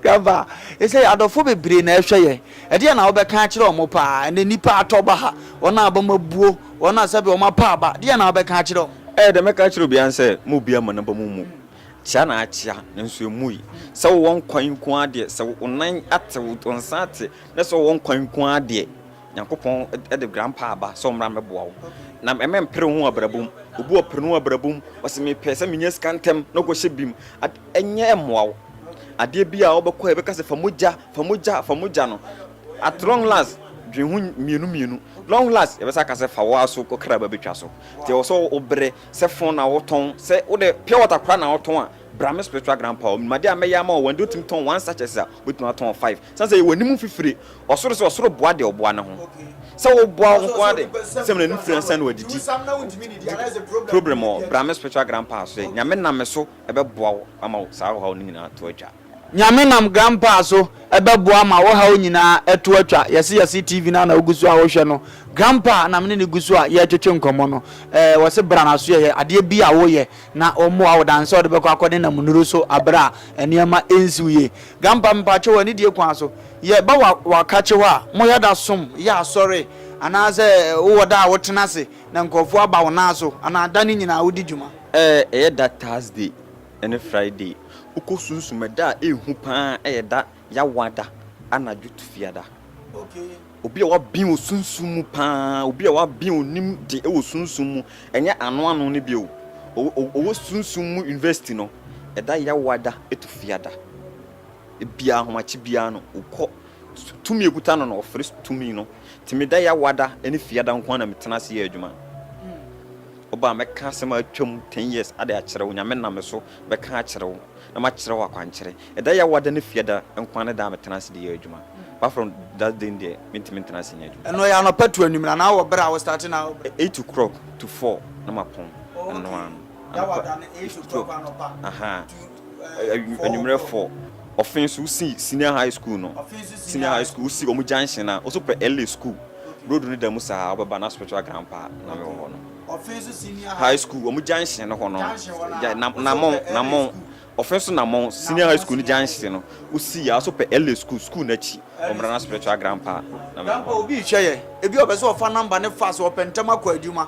grandpa ɛsɛ adɔfo bebree na ɛhwɛ yɛ ɛdeɛ na wobɛka akyerɛ ɔmo paa ɛnɛ nipa atɔ ba ha wɔn a bɛma buo Wɔn a sɛbe wɔn apa aba, deɛn na wobɛka akyerɛ wɔn? Ɛyɛ dɛ mɛka akyerɛ obiara sɛ, Mo obiara mma n'aba mu mmu. Kyea na akyea, nanso emmui. Sɛ wowɔ nkwa yi nko ara deɛ, sɛ wo nan ate, wo nsa ate, na sɛ wowɔ nkwa yi nko ara deɛ, Nyankopɔn de Grandpa aba sɛ ɔmmra mmɛboa wo. Na mempere wo ho abrabɔ mu. Obi a ɔpere ne ho abrabɔ mu, ɔse, Mepɛ sɛ menya sika ntɛm na ɔkɔhyɛ bim a, ɛnyɛ mmoa wo. Adeɛ bi a wobɛkɔ a, ɛbɛka sɛ, Fa mogya, fa mogya, fa mogya no. At long last dwen ho mmienu mmienu. Long last yɛbɛsan aka sɛ fa wo ara so wo kra ba bɛtwa so. Nti ɛwɔ sɛ wo brɛ. Sɛ phone na wo tɔn, sɛ wo dɛ pure water koraa na wo tɔn a, bra me spiritual grandpa hɔ. Menim adeɛ a mɛyɛ ama wo. Wɔn deɛ wotumi tɔn one sachets a, wobɛtumi atɔn five. Ɛsiane sɛ yɛwɔ anim mfifire. Ɔsoro sɛ ɔsoro boa deɛ ɔboa ne ho. Sɛ wo boa wo nko ara de, sɛ mena anim firi ansa na wadidi. Problem wɔ hɔ. Bra me spiritual grandpa so. Nyame nam me so ɛbɛboa wo ama wo saa ɔhaw no nyinaa ato atwa. Nyame nam grandpa so bɛboa ma wo haw nyinaa ɛto atwa yɛse yɛse TV no a na wo guso a wo hwɛ no grandpa na mene no guso a yɛ twetwe nkɔmɔ no ɛɛ wɔse bra na so yɛyɛ adeɛ bi a wo yɛ na ɔmmoa wo dan sɛ ɔde bɛkɔ akɔ ne nam nuro so abere a nneɛma ɛnsiw yie grandpa mpakyɛ wɔ anidie kwan so yɛ ba wa wakakye hɔ a mo yɛ da som yɛ asɔre anaasɛ wo wɔ da a wo tena se na nkurɔfoɔ aba wo nan so anaa da no nyinaa wo di dwuma. Ɛɛ ɛyɛ da Thursday ne Friday. Wokɔ sunsum a, da a ehu paa yɛ da Yawa da, anadwo tufia da. Obi a wabin wɔ sunsum mu paa, obi a wabin onim de wɔ sunsum mu, ɛnyɛ ano ano no bio. Ɔwɔ sunsum mu university no, ɛda Yawa da, tufia da. Ebia ahomakye biara no, wokɔ, tumi a ekuta no no, ɔfrɛ tumi no. Nti me da Yawa da ne Fiada nko ara na metena ase yɛ adwuma. Ɔba a, mɛka asɛm a atwam ten years ade akyerɛ wo, Nyame nam me so bɛka akyerɛ wo, na makyerɛ wo akwankyerɛ. Ɛda Yehowa da ne Fiada nko ara ne da a metena ase de yɛ adwuma. Baforo da den deɛ, mentumi ntena ase nyɛ adwuma. Ɛno yɛ anɔpa tu anwummerɛ anaa wɔ berɛ a wo starte na wo berɛ? Eight o'clock to four na mapɔn, ɛno ara no. Anɔpa, eight o'clock to four, aha. Anwummerɛ fɔ, ɔfe nso wosi senior high school no, senior high school wosi wɔn junction a, woso pɛ LA school, road no da mu saa, wobɛba na spiritual grandpa na mewɔ hɔ no. High school wɔn junction no hɔ no, namɔn, namɔn, ɔfe nso namɔn, senior high school no junction no, wosi yɛ a, woso pɛ LA school, school no akyi, wɔmmra na spiritual grandpa na mewɔ hɔ no. Ebi rehwɛ yɛ, ebi ɔpɛ sɛ ɔfa number no fast, ɔpɛ ntɛm akɔ adwuma.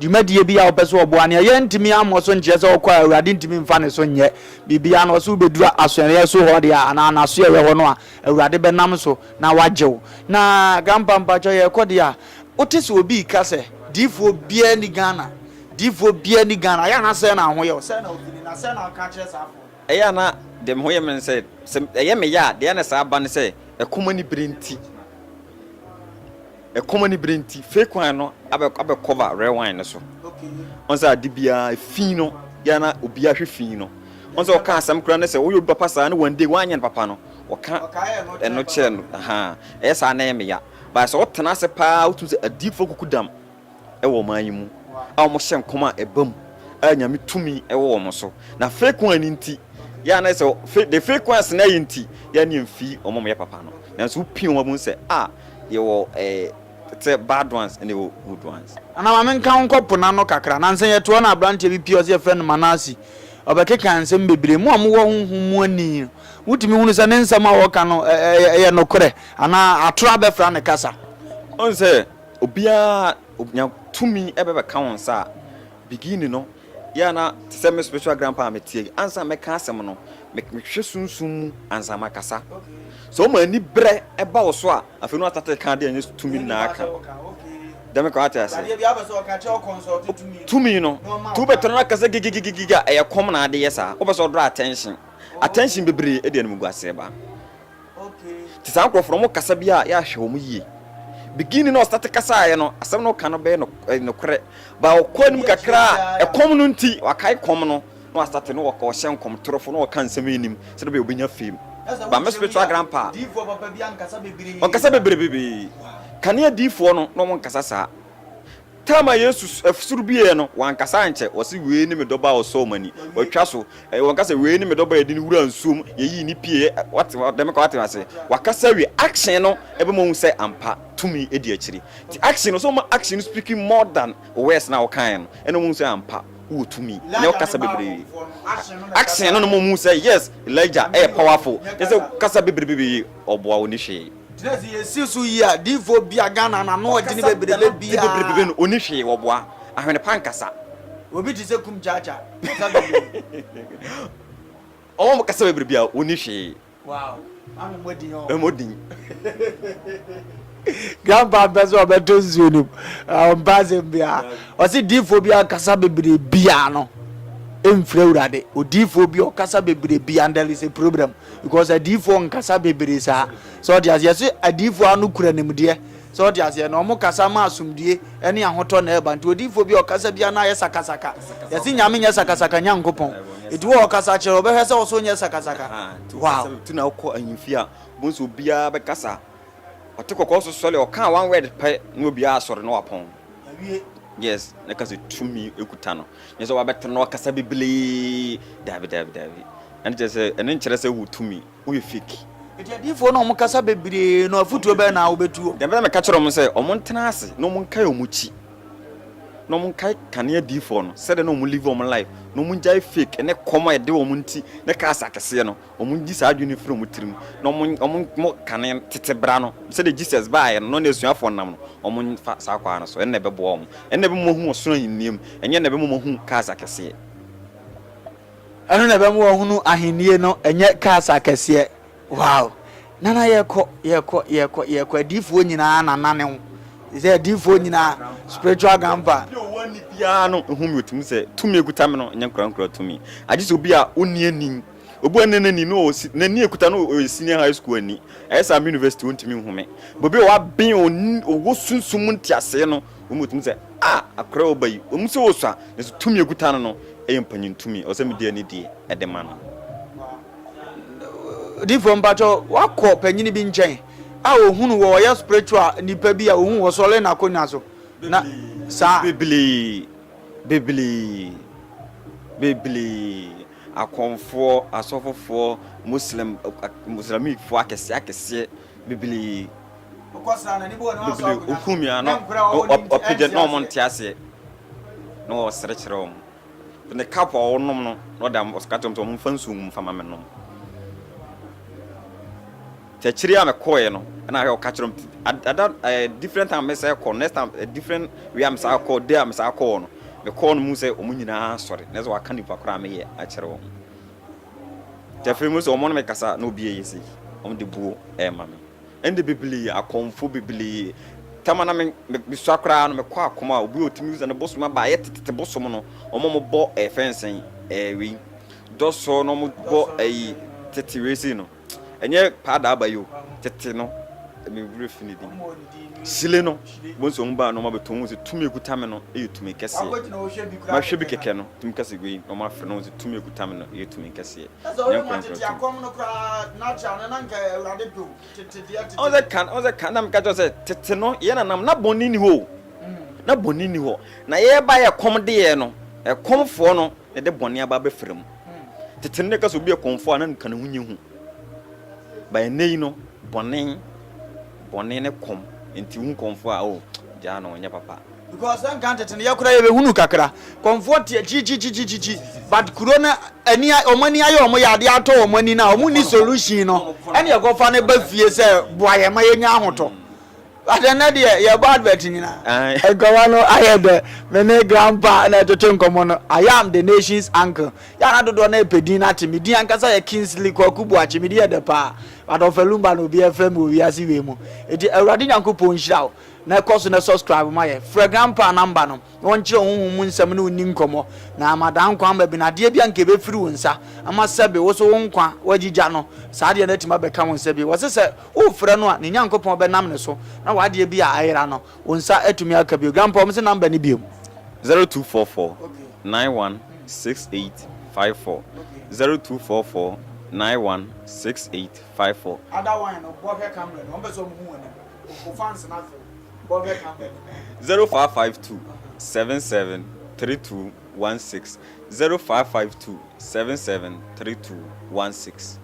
Dwumadie biara a wopɛ sɛ ɔboa no yɛ, yɛ ntumi ammɔ so nkyerɛ sɛ ɔkɔ a Awurade ntumi mfa ne so nyɛ biribiara na ɔse wobɛduru asɔreɛ so hɔ deɛ a anaa n'asoɛeɛ hɔ no a Awurade bɛnam so na wagye wo na Grandpa mpakyɛ yɛkɔ deɛ a wote sɛ obi reka sɛ diifoɔ biara nni Ghana diifoɔ biara nni Ghana ɛyɛ a na sɛn na wo ho yɛ wo sɛn na wofili na sɛn na woka akyerɛ saa afoɔ no. Ɛyɛ a na deɛ me ho yɛ me ne sɛ sɛ ɛyɛ me ya a deɛ na saa ba ne sɛ ɛkɔm ani bere nti. Ɛkɔm ani bere nti fake wine no abɛ abɛ cover red wine no so. Ɔn sɛ ade biara fi no yɛ na obiara hwɛ fi no. Ɔn sɛ ɔka asɛm koraa ne sɛ woyɛ obi papa saa ne one day wanyɛ no papa no ɔka ɛno kyerɛ no ahaa ɛyɛ saa na ɛyɛ me ya. But sɛ wotena ase paa wotumi sɛ adiifoɔ kuku dam. wɔ ɔman yi mu a wɔhyɛ nkɔm a ɛba mu a Nyame tumi wɔ wɔn so, na frequency nti yɛ a na ɛsɛ sɛ the frequency na ɛyɛ nti yɛ a ne yɛmfi wɔn a wɔyɛ papa no, nanso wopie wɔn a wobɛhu sɛ ah yɛwɔ eh sɛ bad ones ɛna ɛwɔ good ones. Anaa ma menka wo nkɔ po no ano kakra. Nansa yi yɛte hɔ na aberanteɛ bi pue ɔse yɛfrɛ no Manase. Ɔbɛkeka nsɛm bebree. Mo a mowɔ honhom mu ani no, motumi hunu sɛ ne nsɛm a ɔreka no yɛ nokorɛ anaa atorɔ abɛfra ne kasa. Wohu sɛ Obiara nya tumi bɛbɛka wo nsa a, beginning no yɛ a na te sɛ me spiritual grandpa a mete yi, ansa na mɛka asɛm no, mehwɛ sunsum mu ansa na makasa. Sɛ ɔma ani berɛ ba wo so a, afei na wastate reka adeɛ a ɛnyɛ tumi no na aka. Dame kɔ ate ase. Tumi no, nti wobɛtena no akasa gigigigigi a, ɛyɛ kɔm na ade yɛ saa. Wopɛ sɛ ɔdraw attention. Attention bebree de animguaseɛ ba. Nti saa nkorɔfo no, wɔn kasa bi a, yɛahwɛ wɔn yie. Beginning no a ɔstate kasaeɛ no, asɛm no ɔka no bɛyɛ no ɛyɛ nokorɛ. Ba ɔkɔ anim kakra a, ɛkɔm no nti, wakae kɔm no, na wastate no ɔka ɔhyɛ nkɔm torofo na ɔka nsɛm yi nim sɛdeɛ ɔbɛyɛ ɔbɛnya fame. Ba me spiritual grandpa, ɔkasa bebrebee. Kane adiyifoɔ no, na wɔn nkasa saa. Tam a Yesu soro bieɛ no, wankasa ankyɛ. Ɔse, Wei ne me dɔba a ɔsɔɔ mo ani. Watwa so. Ɔnka sɛ, Wei ne me dɔba a yɛde no wuraa nsuom, yɛyii no pieeɛ. Wate? Dame koraa wate aseɛ. Wakasa awie. Action no bɛma woahu sɛ ampa tumi di akyire. Nti action no, sɛ woma action no speaking more than wo words no a wokaeɛ no, ɛnna wɔhu sɛ ampa wowɔ tumi. Ɛnyɛ wokasa bebree. Action no na ɛma wɔhu sɛ, yes, Elijah yɛ powerful. Ɛnyɛ sɛ wokasa bebrebe, ɔboa wo nni hwee. Yɛnsi so yie a, diifoɔ bi a Ghana na ano ɔdwene bebrebe bi a. Bebrebe no, ɔnni hwee, wɔboa ahwene pa nkasa. Obi te sɛ Kum Kyaakya, ɔkasa bebrebe. Ɔwɔ kasa bebrebe a, ɔnni hwee. Wow, maame mmɔ din hɔ. Mmɔ din. Grandpa mpɛ sɛ ɔbɛto nsuo no mu, ɔmpa asɛm biara. Ɔse diifoɔ bi a ɔkasa bebrebe biara no, ɛmfiri Awurade. Odiifoɔ bi a ɔkasa bebrebe biara, there is a problem. because adiyifoɔ nkasa bebree saa sɛ ɔte aseɛ yɛse adiyifoɔ ano kura nimdeɛ sɛ ɔte aseɛ na ɔmo kasa ma asomdue ɛne ahotɔ na ɛba nti odiyifoɔ bi a ɔkasa bia na ayɛ sakasaka yɛse nyame nyɛ sakasaka nyankopɔn ɛti wɔ ɔkasa kyerɛ ɔbɛhwɛ sɛ ɔso nyɛ sakasaka wow ti na ɔkɔ ahemfie a bonsɛ obiara bɛkasa ɔte kɔkɔɔ so sɔre ɔka one word pɛ na obiara asɔre na wapɔn yes na kasa tumi ekuta no nyɛ sɛ wabɛtena ɔkasa bebree daabi daabi daabi Ɛno kyerɛ sɛ, ɛno nkyerɛ sɛ wowɔ tumi, woyɛ fake. Enti adiyifoɔ no a wɔkasa bebree no afotuo bɛn na wobɛtuo? Deɛ ɛbɛyɛ meka kyerɛ wɔn sɛ wɔn ntena ase na wɔn nkae wɔn akyi na wɔn nkae kane adiyifoɔ no sɛdeɛ na wɔn live wɔn life na wɔn gyae fake ɛne kɔm a ɛde wɔn nti ne kaas akɛseɛ no wɔn ngyi saa adwene no firi wɔn tirim na wɔn wɔn mo kane tete bra no sɛdeɛ Jesus baeɛ no na ɔne asuafoɔ nam no wɔn nfa saa kwaa no so ɛnna ɛbɛboa wɔn ɛnna ɛbɛma wɔn ahu ɔsoro ahennie mu ɛnyɛ ɛnna ɛbɛma wɔn ahu kaas akɛseɛ. Ɛno na ɛbɛma wɔahunu ahenni no, ɛnyɛ cars akɛseɛ. Wow! Nana yɛkɔ, yɛkɔ, yɛkɔ, yɛkɔ. Adiifoɔ nyinaa na nane wo. Te sɛ adiifoɔ nyinaa, spiritual grandpa. Obi a ɔwɔ ani biara no hu me, ɔtumi sɛ tumi a ɛkuta me no nyɛ nkorankora tumi. Agye sɛ obi a ɔnni ani. Obi a ɔnni n'ani no, n'ani a ɛkuta no ɔyɛ senior high school ani. Ɛyɛ sɛ I'm university, ɔntumi nhu me. But obi a waben, ɔwɔ sunsum mu nteaseɛ no, Wobetumi sɛ, A! Akora a ɔba yi, ɛwom sɛ ɔsua, nanso tumi a ɔkuta no no yɛ mpanyin tumi. Ɛwɔ sɛ mede anidie de ma no. Odiyifoɔ, mpakyɛw, wakɔ panyin bi nkyɛn a ɔhu no wɔ ɔyɛ spiritual nipa bi a ɔhu wɔ sɔre na akonnwa so na saa. Bebree, bebree, bebree, akɔmfoɔ, asɔfofoɔ, Muslim, Muslimikfoɔ akɛseɛ akɛseɛ bebree. bebree okum mi ano ɔpagya na wɔn nte aseɛ na wɔsere kyerɛ wɔn ne cup a wɔnom no na ɔda ɔsika kyerɛ wɔn sɛ wɔn nfa nsuo wɔn nfa ma me nom kyɛkyerɛ a mekɔɛ no ɛna ahwɛ ɔka kyerɛ wɔn ada ɛɛ different time mesa kɔ next time eh, different way a mesa kɔ day a mesa kɔ no mekɔɔ no mu sɛ wɔn nyinaa sɔre na sɛ wɔaka nipa koraa meyɛ akyerɛ wɔn kyɛfɛ mu sɛ wɔn no mekasa na obi yɛ yɛ sɛ wɔn de buo ɛɛma me. Ɛnde bebree, akɔmfo bebree, tam a na mesua koraa no, mekɔ akɔm a obi a otumi bisa no bosom aba, ɛyɛ tetete bosom no, wɔn a wɔbɔ ɛɛ fɛn sɛn ɛɛ wei dɔsɔɔ na wɔbɔ ɛyi tete wei sei no, ɛnyɛ paa da aba yi o, tete no, me werɛ fi ne din, hyile no, bohu sɛ wɔn baa na wɔn abɛtɔ wɔn sɛ tumi ekuta me no yɛ tumi kɛseɛ, mahwɛ bi kɛkɛ no, tumi kɛse wei na wɔn afrɛ no wɔn sɛ tumi ekuta me no yɛ tumi kɛseɛ. ne nkorɔnkorɔtum. Ɔn sɛ kan, ɔn sɛ kan na meka kyerɛ sɛ tete no yɛ nanam na bɔne ni hɔ o, na bɔne ni hɔ. Na yɛba yɛ kɔm deɛ no, ɛkɔmfoɔ no na ɛde bɔne aba abɛfra mu. Tete no na ɛka sɛ obi yɛ kɔmfoɔ a na nka ne ho nyɛ hu. Ba ɛnɛ yi no, bɔne, bɔne ne kɔm, nti wohu kɔmfoɔ a, oh, gyaa no, ɔnyɛ papa. Because na nka tete no yɛ koraa yɛbɛ hunu kakra kɔmfoɔ teɛ kyikyikyikyi but kuro no ani wɔn ani ayɛ wɔn yɛ adeɛ atɔ wɔn ani na wɔn ni solution no ɛna ɛkɔfa no ba fie sɛ boa yɛn ma yɛnya ahotɔ but ɛnɛ deɛ yɛbɔ advert nyinaa nkɔmɔ no ayɛ dɛ me ne grandpa na ɛtwetwe nkɔmɔ no I am the nation's uncle yɛana dodoɔ na ɛpɛ din no ate me din ankasa yɛ Kingsley Kwaku Boakye me din yɛ dɛ paa but ɔfɛlumba na obi ɛfrɛ me wɔ wiase wei mu eti awurade Nyankopɔn nhyira wo Na ɛkɔ so na subscribe ma yɛn. Frɛ Grandpa a number no, na ɔnkyerɛ wo honhom mu nsɛm ne wo nni nkɔmmɔ, na ama daa nkwa ama bi no adeɛ bi a nka ɛbɛfiri wo nsa, ama sɛbe wo so wo nkwa woagyigya no, saa adeɛ no atumi abɛka wo nsa bio. Wɔse sɛ worefrɛ no a, ne Nyankopɔn bɛnam ne so na w'adeɛ bi a ayera no, wo nsa atumi aka bio. Grandpa, wɔse number no biom. Zero two four four nine one six eight five four zero two four four nine one six eight five four. Ada wine no bɔ hwɛ camera no wɔn pɛ sɛ wɔn hu wɔn anim. Zero five five two seven seven three two one six zero five five two seven seven three two one six.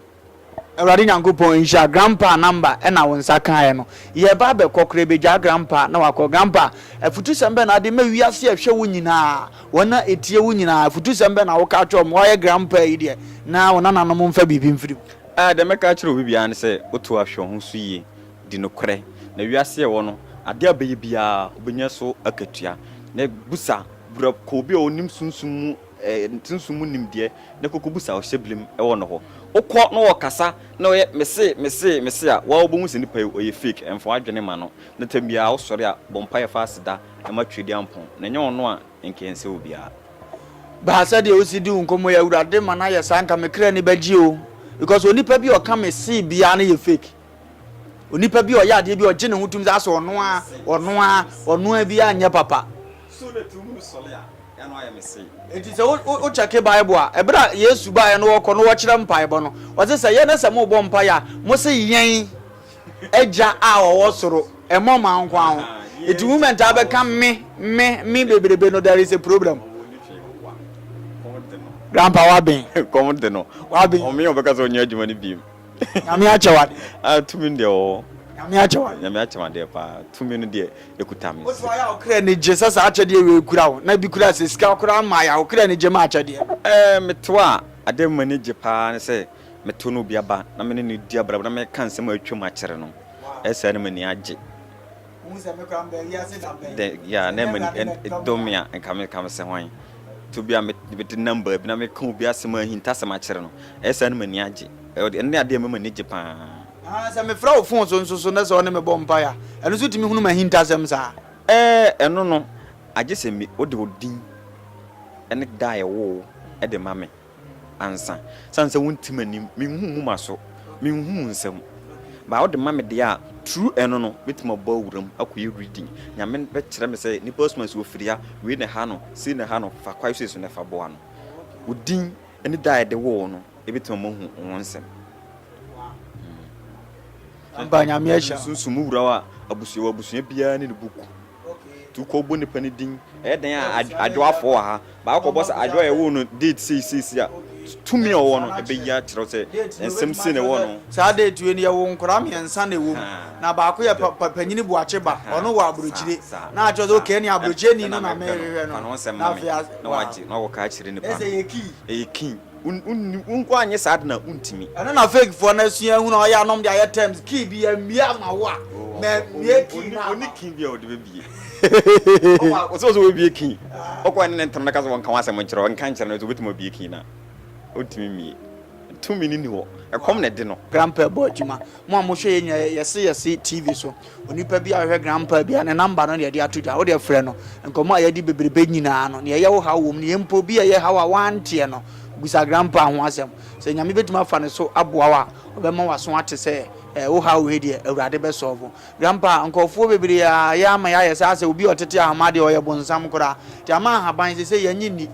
Awurade Nyankopɔn nhyira grandpa number ɛna wo nsa kaeɛ no yɛba abɛkɔ koraa bɛgyaa grandpa na wakɔ grandpa afutusɛm bɛ na ade ma wiase a ɛhwɛ wo nyinaa wɔn a ɛtie wo nyinaa afutusɛm bɛ na woka kyerɛ wɔn woayɛ grandpa yi deɛ na wo nananom mfa biribi mfiri mu. Ah, deɛ mɛka akyerɛ obi biara ne sɛ woto ahwɛ wo ho so yie. Di nokorɛ, na wiase a ɛwɔ no, adeɛ a ɔbɛyɛ biara, ɔbɛnya so akatua. Na bisa, bura, kɔ obi a ɔnim sunsum mu, eh, sunsum mu nimdeɛ, na kɔkɔ bisa a ɔhyɛ birim wɔ no hɔ. Wokɔ na ɔkasa na ɔyɛ me se, me se, me se a, wo ara wobɛhu sɛ nipa yi, ɔyɛ fake, mfa w'adwene mma no. Na tam biara wosɔre a, bɔ mpaeɛ fa aseda ma Tweduampɔn, na ɛnyɛ ɔno a, nka ɛnsɛ obiara. Ba, sɛdeɛ wosi di wo nkɔmmɔ yi, Awurade ma no ayɛ saa, nka me kra ani bɛgye o, because onipa bi a ɔka me se biara no yɛ fake. Onipa bi a ɔyɛ adeɛ bi a ɔgye ne ho tom sɛ asɛ ɔno ara ɔno ara ɔno ara biara nyɛ papa. Enti sɛ wokyɛke Bible a, ɛberɛ a Yesu baeɛ no wɔkɔ no wɔkyerɛ mpaebɔ no, ɔse sɛ yɛn na sɛ mobɔ mpaeɛ a, mo se yɛn agya a ɔwɔ soro, ɛmmɔ ma nkoa ho. Enti mo mɛntaa bɛka me, me, me bebrebe no, there is a problem. Grandpa waben. Kɔm de no. Waben. Ɔmea ɔbɛka sɛ ɔnyɛ adwuma no biem. Nyame akyɛ wo adeɛ. Ah tumi no deɛ ɛwɔ hɔ. Nyame akyɛ wo adeɛ. Nyame akyɛ me adeɛ paa. Tumi no deɛ ɛkuta me. Wode wayɛ a wo kra ani gye sɛ saa akyɛdeɛ wei kura wo. Na bi koraa sɛ sika koraa mmaeɛ a wo kra ani gye ma akyɛdeɛ no. Eh me to a adeɛ a m'ani gye paa ne sɛ me to na obi aba na me ne no redi abrabɔ na meka nsɛm a atwam akyerɛ no. Ɛyɛ saa na m'ani agye. Dɛ yeah na me dɔ me a nka me ka me sɛ hwan to bi a me mede nam baabi na meka obi asɛm ahintasɛm akyerɛ no ɛyɛ saa na m'ani agye ɛno ne adeɛ a ɛma m'ani gye paa. Ahaa sɛ me frɛ wo phone so nso so na sɛ ɔne me bɔ mpaeɛ a ɛno nso tumi hunu m'ahintasɛm saa? Ɛɛ ɛno no agye sɛ me wode wo din ne da a yɛwoo wo de ma me. ansa. San sɛ wonte m'anim, menhu mu maso, menhu mu nsɛm. Baa wode ma me deɛ a, true ɛno no, mɛtumi abɔ awuram akɔyɛ reading. Nyame bɛkyerɛ me sɛ nipa asuman si ofiria, wei na ɛha no, sei na ɛha no, fa kwae sei so na fa boa no. Wo din ne da a yɛde woo wo no, ɛbɛtumi ama wahu wo ho nsɛm. Ampa, Nyame ahyira wo. Sunsum mu wura wo a, abusua, wɔ abusua biara ne ne book. Tu kɔ bɔ nipa no din. Ɛyɛ dɛn a Adwoa afɔ wɔ ha? Baako kɔ bɔ sɛ Adwoa a yɛwoo no date sei sei sei a, tumi a ɔwɔ no ɛbɛyi akyerɛ wo sɛ nsɛm sei na ɛwɔ no ho. Saa date wei no yɛwoo nkwadaa mmiɛnsa na ɛwɔ mu na baako yɛ panyini Boakye ba, ɔno wɔ Aburokyire na akyerɛ sɛ okay ɛne Aburokyire ni no na merehwehwɛ no na afei a, wow. Ɛsɛ ɛyɛ kii. Wonni wo nko anyɛ saa de na wontumi. Ɛno na fake foɔ no asua ahunu a ɔyɛ anom de ayɛ terms key bi yɛ mmie ama wo a na mie key na ama wo. Ɔni key bi a ɔde bɛbie. Ɔsɛ ɔsɛ ɔbɛbie key. Ɔkɔ ɛne ne ntɛm no ka sɛ wɔnka ho asɛm nkyerɛ no ɔnka nkyerɛ no sɛ ɔbɛtumi abie key no a ɔntumi mmie. Tumi no nni hɔ. Ɛkɔm na ɛde no. Grandpa bɔ adwuma. Mo a mohwɛ yɛn nyinaa yɛse yɛse TV so. Onipa bi a ɔhwɛ Grandpa bi a ne number no na yɛde ato dwa, wodeɛ frɛ no, nkɔmmɔ a yɛadi bebrebe nyinaa no, nea ɛyɛ wo haw wɔ mu no, yɛ mpo obi a ɛyɛ haw a woanteɛ no, bisa Grandpa ho asɛm. Sɛ Nyame bɛtumi afa ne so aboa wo a, ɔbɛma w'aso ate sɛ, eh, wo haw wei deɛ, Awurade bɛ solve. Grandpa, nkorɔfoɔ bebree a yɛ ama yɛayɛ saa sɛ obi a ɔtete ahoma deɛ ɔyɛ bonsam koraa, nti ama ahaban seisei yɛnye nni.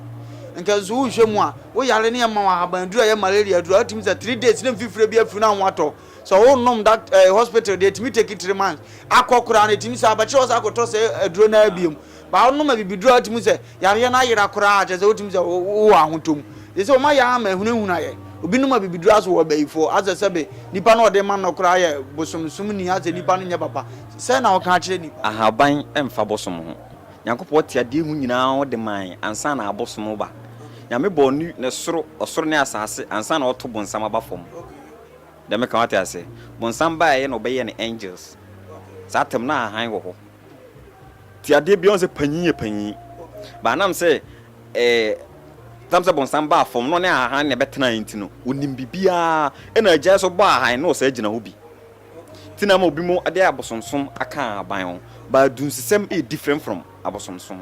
Nka nso wohwɛ mu a, wo yare ne ɛma wo ahaban aduru a ɛyɛ malaria aduru a, wotumi sɛ three days na mfifire bi afiri na wo ho atɔ Sɛ wo nom dak eh hospital deɛ ɛtumi take three months akɔ koraa no ɛtumi saa bɛkyerɛ wɔ sɛ akɔtɔ sɛ aduro no ara biom but wo nom abibiduro a wotumi sɛ yareɛ no ayera koraa kyerɛ sɛ wotumi sɛ wo wɔ ahotɔm ɛsɛ sɛ wɔma yɛ ama ahunahuna yɛ obi nom abibiduro aso wɔ bayifoɔ asɛ sɛbe nipa no ɔde ma no koraa yɛ bosom som ni asɛ nipa no nyɛ papa sɛ na ɔka akyerɛ nipa. Ahaban mfa bosom ho. Nyankopɔn te adeɛ mu nyinaa ɔde mae ansa na abosom reba. Nyame bɔɔ ne ne soro ɔsoro ne asaase ansa na ɔto bonsam aba fam. Dɛ meka wate ase. Bonsam baeɛ na ɔbɛyɛɛ no angels. Saa tam no a hann wɔ hɔ. Nti adeɛ biara ɔhu sɛ panyin yɛ panyin. But anam sɛ eh tam sɛ bonsam baa fam na ɔne hann na ɛbɛtenaeɛ nti no, ɔnim biribiara. Ɛna agya nso bɔɔ hann na ɔsan gyina hɔ bi. Nti na ama obi mo de abosomsom aka ahaban ho. But adunsesɛm yɛ different from abosomsom.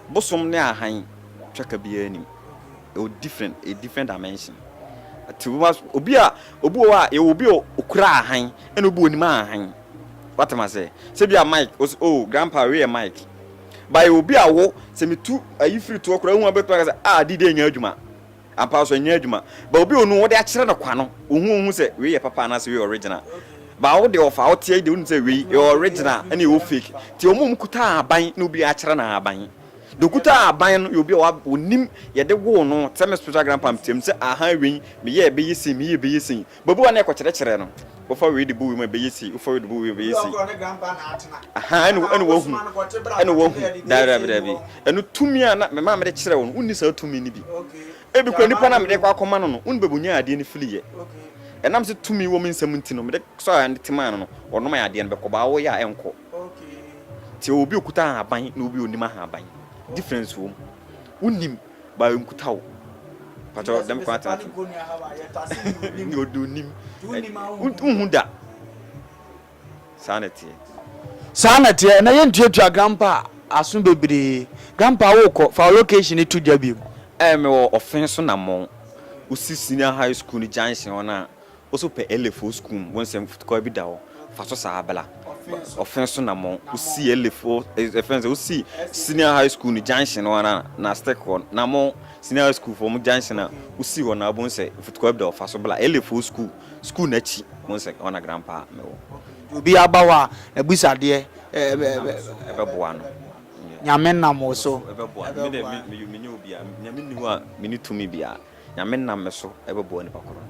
Bosom ne ahan twaka biara nnim ɛwɔ different ɛyɛ different dimension ɛte bi ma obi a obi wɔ hɔ a yɛwɔ obi a okura ahan ɛna obi onim ahan wate ma sɛ sɛ bi a Mike o oh grandpa wei yɛ Mike ba yɛ obi a wo sɛ metu ayi firi toɔ koraa ehu abɛtuma ka sɛ ah di de nya adwuma Ampa ara so ɛnyɛ adwuma. But obi a onu wode akyerɛ no kwa no, ohu ohu sɛ wei yɛ papa anaasɛ wei yɛ original. But wo deɛ ɔfa a woteɛ yi deɛ wonim sɛ wei ɛyɛ original ɛna ɛwɔ fake. Nti wɔn a wɔkuta ahaban na obi akyerɛ no ahaban. Deɛ okuta ahaban no yɛ obi a onim yɛde woo no, sɛ me spiritual grandpa meteam sɛ ahaa wei meyɛɛ ɛbɛyɛ sei, meyɛɛ ɛbɛyɛ sei. Bɛbu a ne ɛkɔkyerɛkyerɛ no. Wofa wei de bu wei mu a ɛbɛyɛ sei, wofa wei de bu wei mu a ɛbɛyɛ sei. Ahaa, ɛne ɛne wahu, ɛne wahu. Daabi, daabi, daabi. Ɛno tumi a na me maame de kyerɛ wo no, wonni saa tumi no bi. Ebi koraa nipa no a mede rekɔ akɔma no no, wonni baabi a ɔnyaa adeɛ no firiiɛ. Ɛnam sɛ tumi wɔ me nsam nti no, mede sɔɔ adeɛ no de maa no no, ɔno maa adeɛ no bɛkɔ, baa woyɛ a ɛnkɔ. Nti ɔwɔ obi a ɔkuta ahaban na obi a ɔnnim ahaban. Difference wɔ mu. Wonnim. Ba nkuta wo pakyɛw dɛm kwan tena tena ne ɔdɔ nim wohu da saa na ɛteɛ. Saa na ɛteɛ na yɛntuatua grandpa aso bebree grandpa wokɔ fa wo location no to gya biom. Ɛɛ mewɔ ɔfee so namɔn wo si senior high school no junction hɔ no a Wo so pɛ LFO sukuu mu, wo nsɛm futukɔɔ bi da hɔ, fa so saa bla. Ɔfɛn so na mɔn, wo sii LFO, ɛfɛn sɛ wo sii senior high school no junction no ara na stick hɔ na mɔn, senior high school foɔ mo junction a wo sii hɔ no ara bohu sɛ futukɔɔ bi da hɔ, fa so bla. LFO sukuu, sukuu no akyi, bohu sɛ hɔ na grandpa me wɔ. Nti obiara ba hɔ a na bisa adeɛ, ɛbɛ, ɛbɛ boa no. Nyame nam wo so, ɛbɛ boa no. Me deɛ me, me, me nyɛ obi a, Nyame nni hɔ a me nni tumi biara. Nyame nam me so ɛbɛboa nipa korɔ no.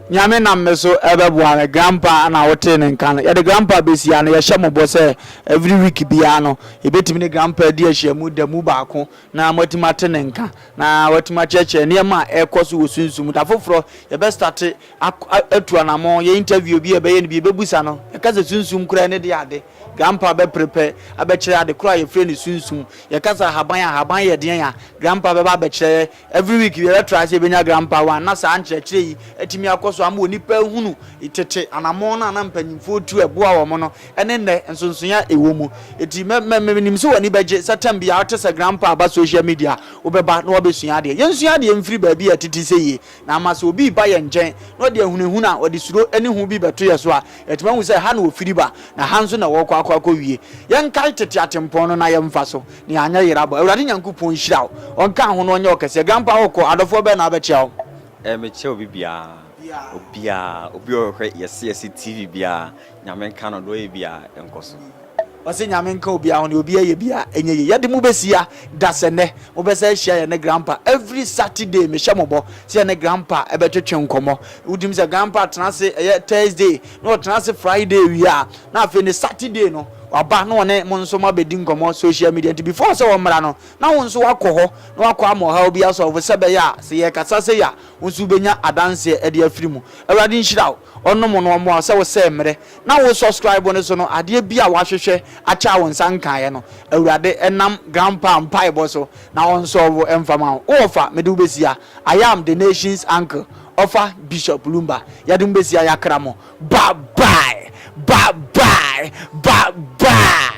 Nyame nam me so ɛbɛboa me. Grandpa na wo tee ne nka no. Yɛde grandpa bɛsi ha no, yɛhyɛ mo bɔ sɛ every week biara no, yɛbɛtumi ne grandpa adi ahyiamu da mu baako na moatumi ate ne nka, na watumi akyerɛkyerɛ nneɛma a ɛrekɔ so wɔ sunsum mu. Da foforɔ, yɛbɛ start atu anamɔn, yɛ interview bi, yɛbɛyɛ no bi, yɛbɛbusa no, yɛka sɛ sunsum koraa ɛne deɛ ade. Grandpa bɛ prepɛ abɛkyerɛ ade korɔ a yɛfrɛ no sunsum. Yɛka sɛ ahaban a, ahaban yɛ deɛn a, grandpa bɛba abɛkyerɛ yɛ. Every week yɛbɛ try sɛ yɛbɛnya Grandpa one na saa nkyerɛkyerɛ yi atumi akɔ so ama onipa ahunu tete anamɔn no a na mpanyimfoɔ tu ɛboa wɔn no ɛne nnɛ nsonsonoeɛ a ɛwɔ mu. Enti mɛ mɛ menim sɛ w'ani bɛgye sɛ term biara wote sɛ Grandpa ba social media a wobɛba na wabɛsua adeɛ. Yɛnsua adeɛ mfiri baabi a ɛtete sɛ yie na ama sɛ obi reba yɛn nkyɛn na ɔde ahunahuna a ɔde suro ne hu bi bɛto yɛn so a yɛatumi ahu sɛ ha na ɔfiri ba na ha nso na ɔrekɔ akɔ akɔwie. Yɛnkae tete atempɔn no na yɛmfa so. Nea anyɛ yera abɔ. Awurade Nyankopɔn nhyira wo. Ɔnka ho na ɔnyɛ wo kɛseɛ. Grandpa wo kɔ, adɔfoɔ bɛn na abɛkyea wo? Eh me kyɛ obi biaa obiaa obi a ɔhwɛ yɛse yɛse TV biaa nyame nka no deɛ ɔyɛ biaa nkɔ so. Ɔse nyame nka obiaa ho deɛ obiaa yɛ biaa ɛnyɛ yie yɛde mo bɛsia da sɛ nɛ mo bɛsan ahyia yɛne grandpa every Saturday mehyɛ mo bɔ sɛ yɛne grandpa ɛbɛtwetwe nkɔmɔ wodim sɛ grandpa tena ase ɛyɛ Thursday na ɔtena ase Friday awia a, na afei ne Saturday no waba na ɔne mo nso moabɛdi nkɔmmɔ social media nti before sɛ ɔmmra no na wo nso woakɔ hɔ na wakɔ ama ɔhaw bi asɔlvo sɛ bɛyɛ a sɛ yɛkasa sɛ yi a wo nso wobɛnya adanseɛ de afiri mu. Awurade nhyira wo, ɔnnom wo na ɔmmoa wo sɛ wo sɛɛ mmerɛ na wo subscribe no so no adeɛ bi a woahwehwɛ akyɛ a wo nsa nkaeɛ no Awurade nam grandpa mpaebɔ so na ɔnsɔlvo mfa ma wo. Wowɔ fa mede wo bɛsia I am the nation's uncle. Ɔfa Bishop Lumba yɛdem besia yakra mo bye bye bye bye bye bye.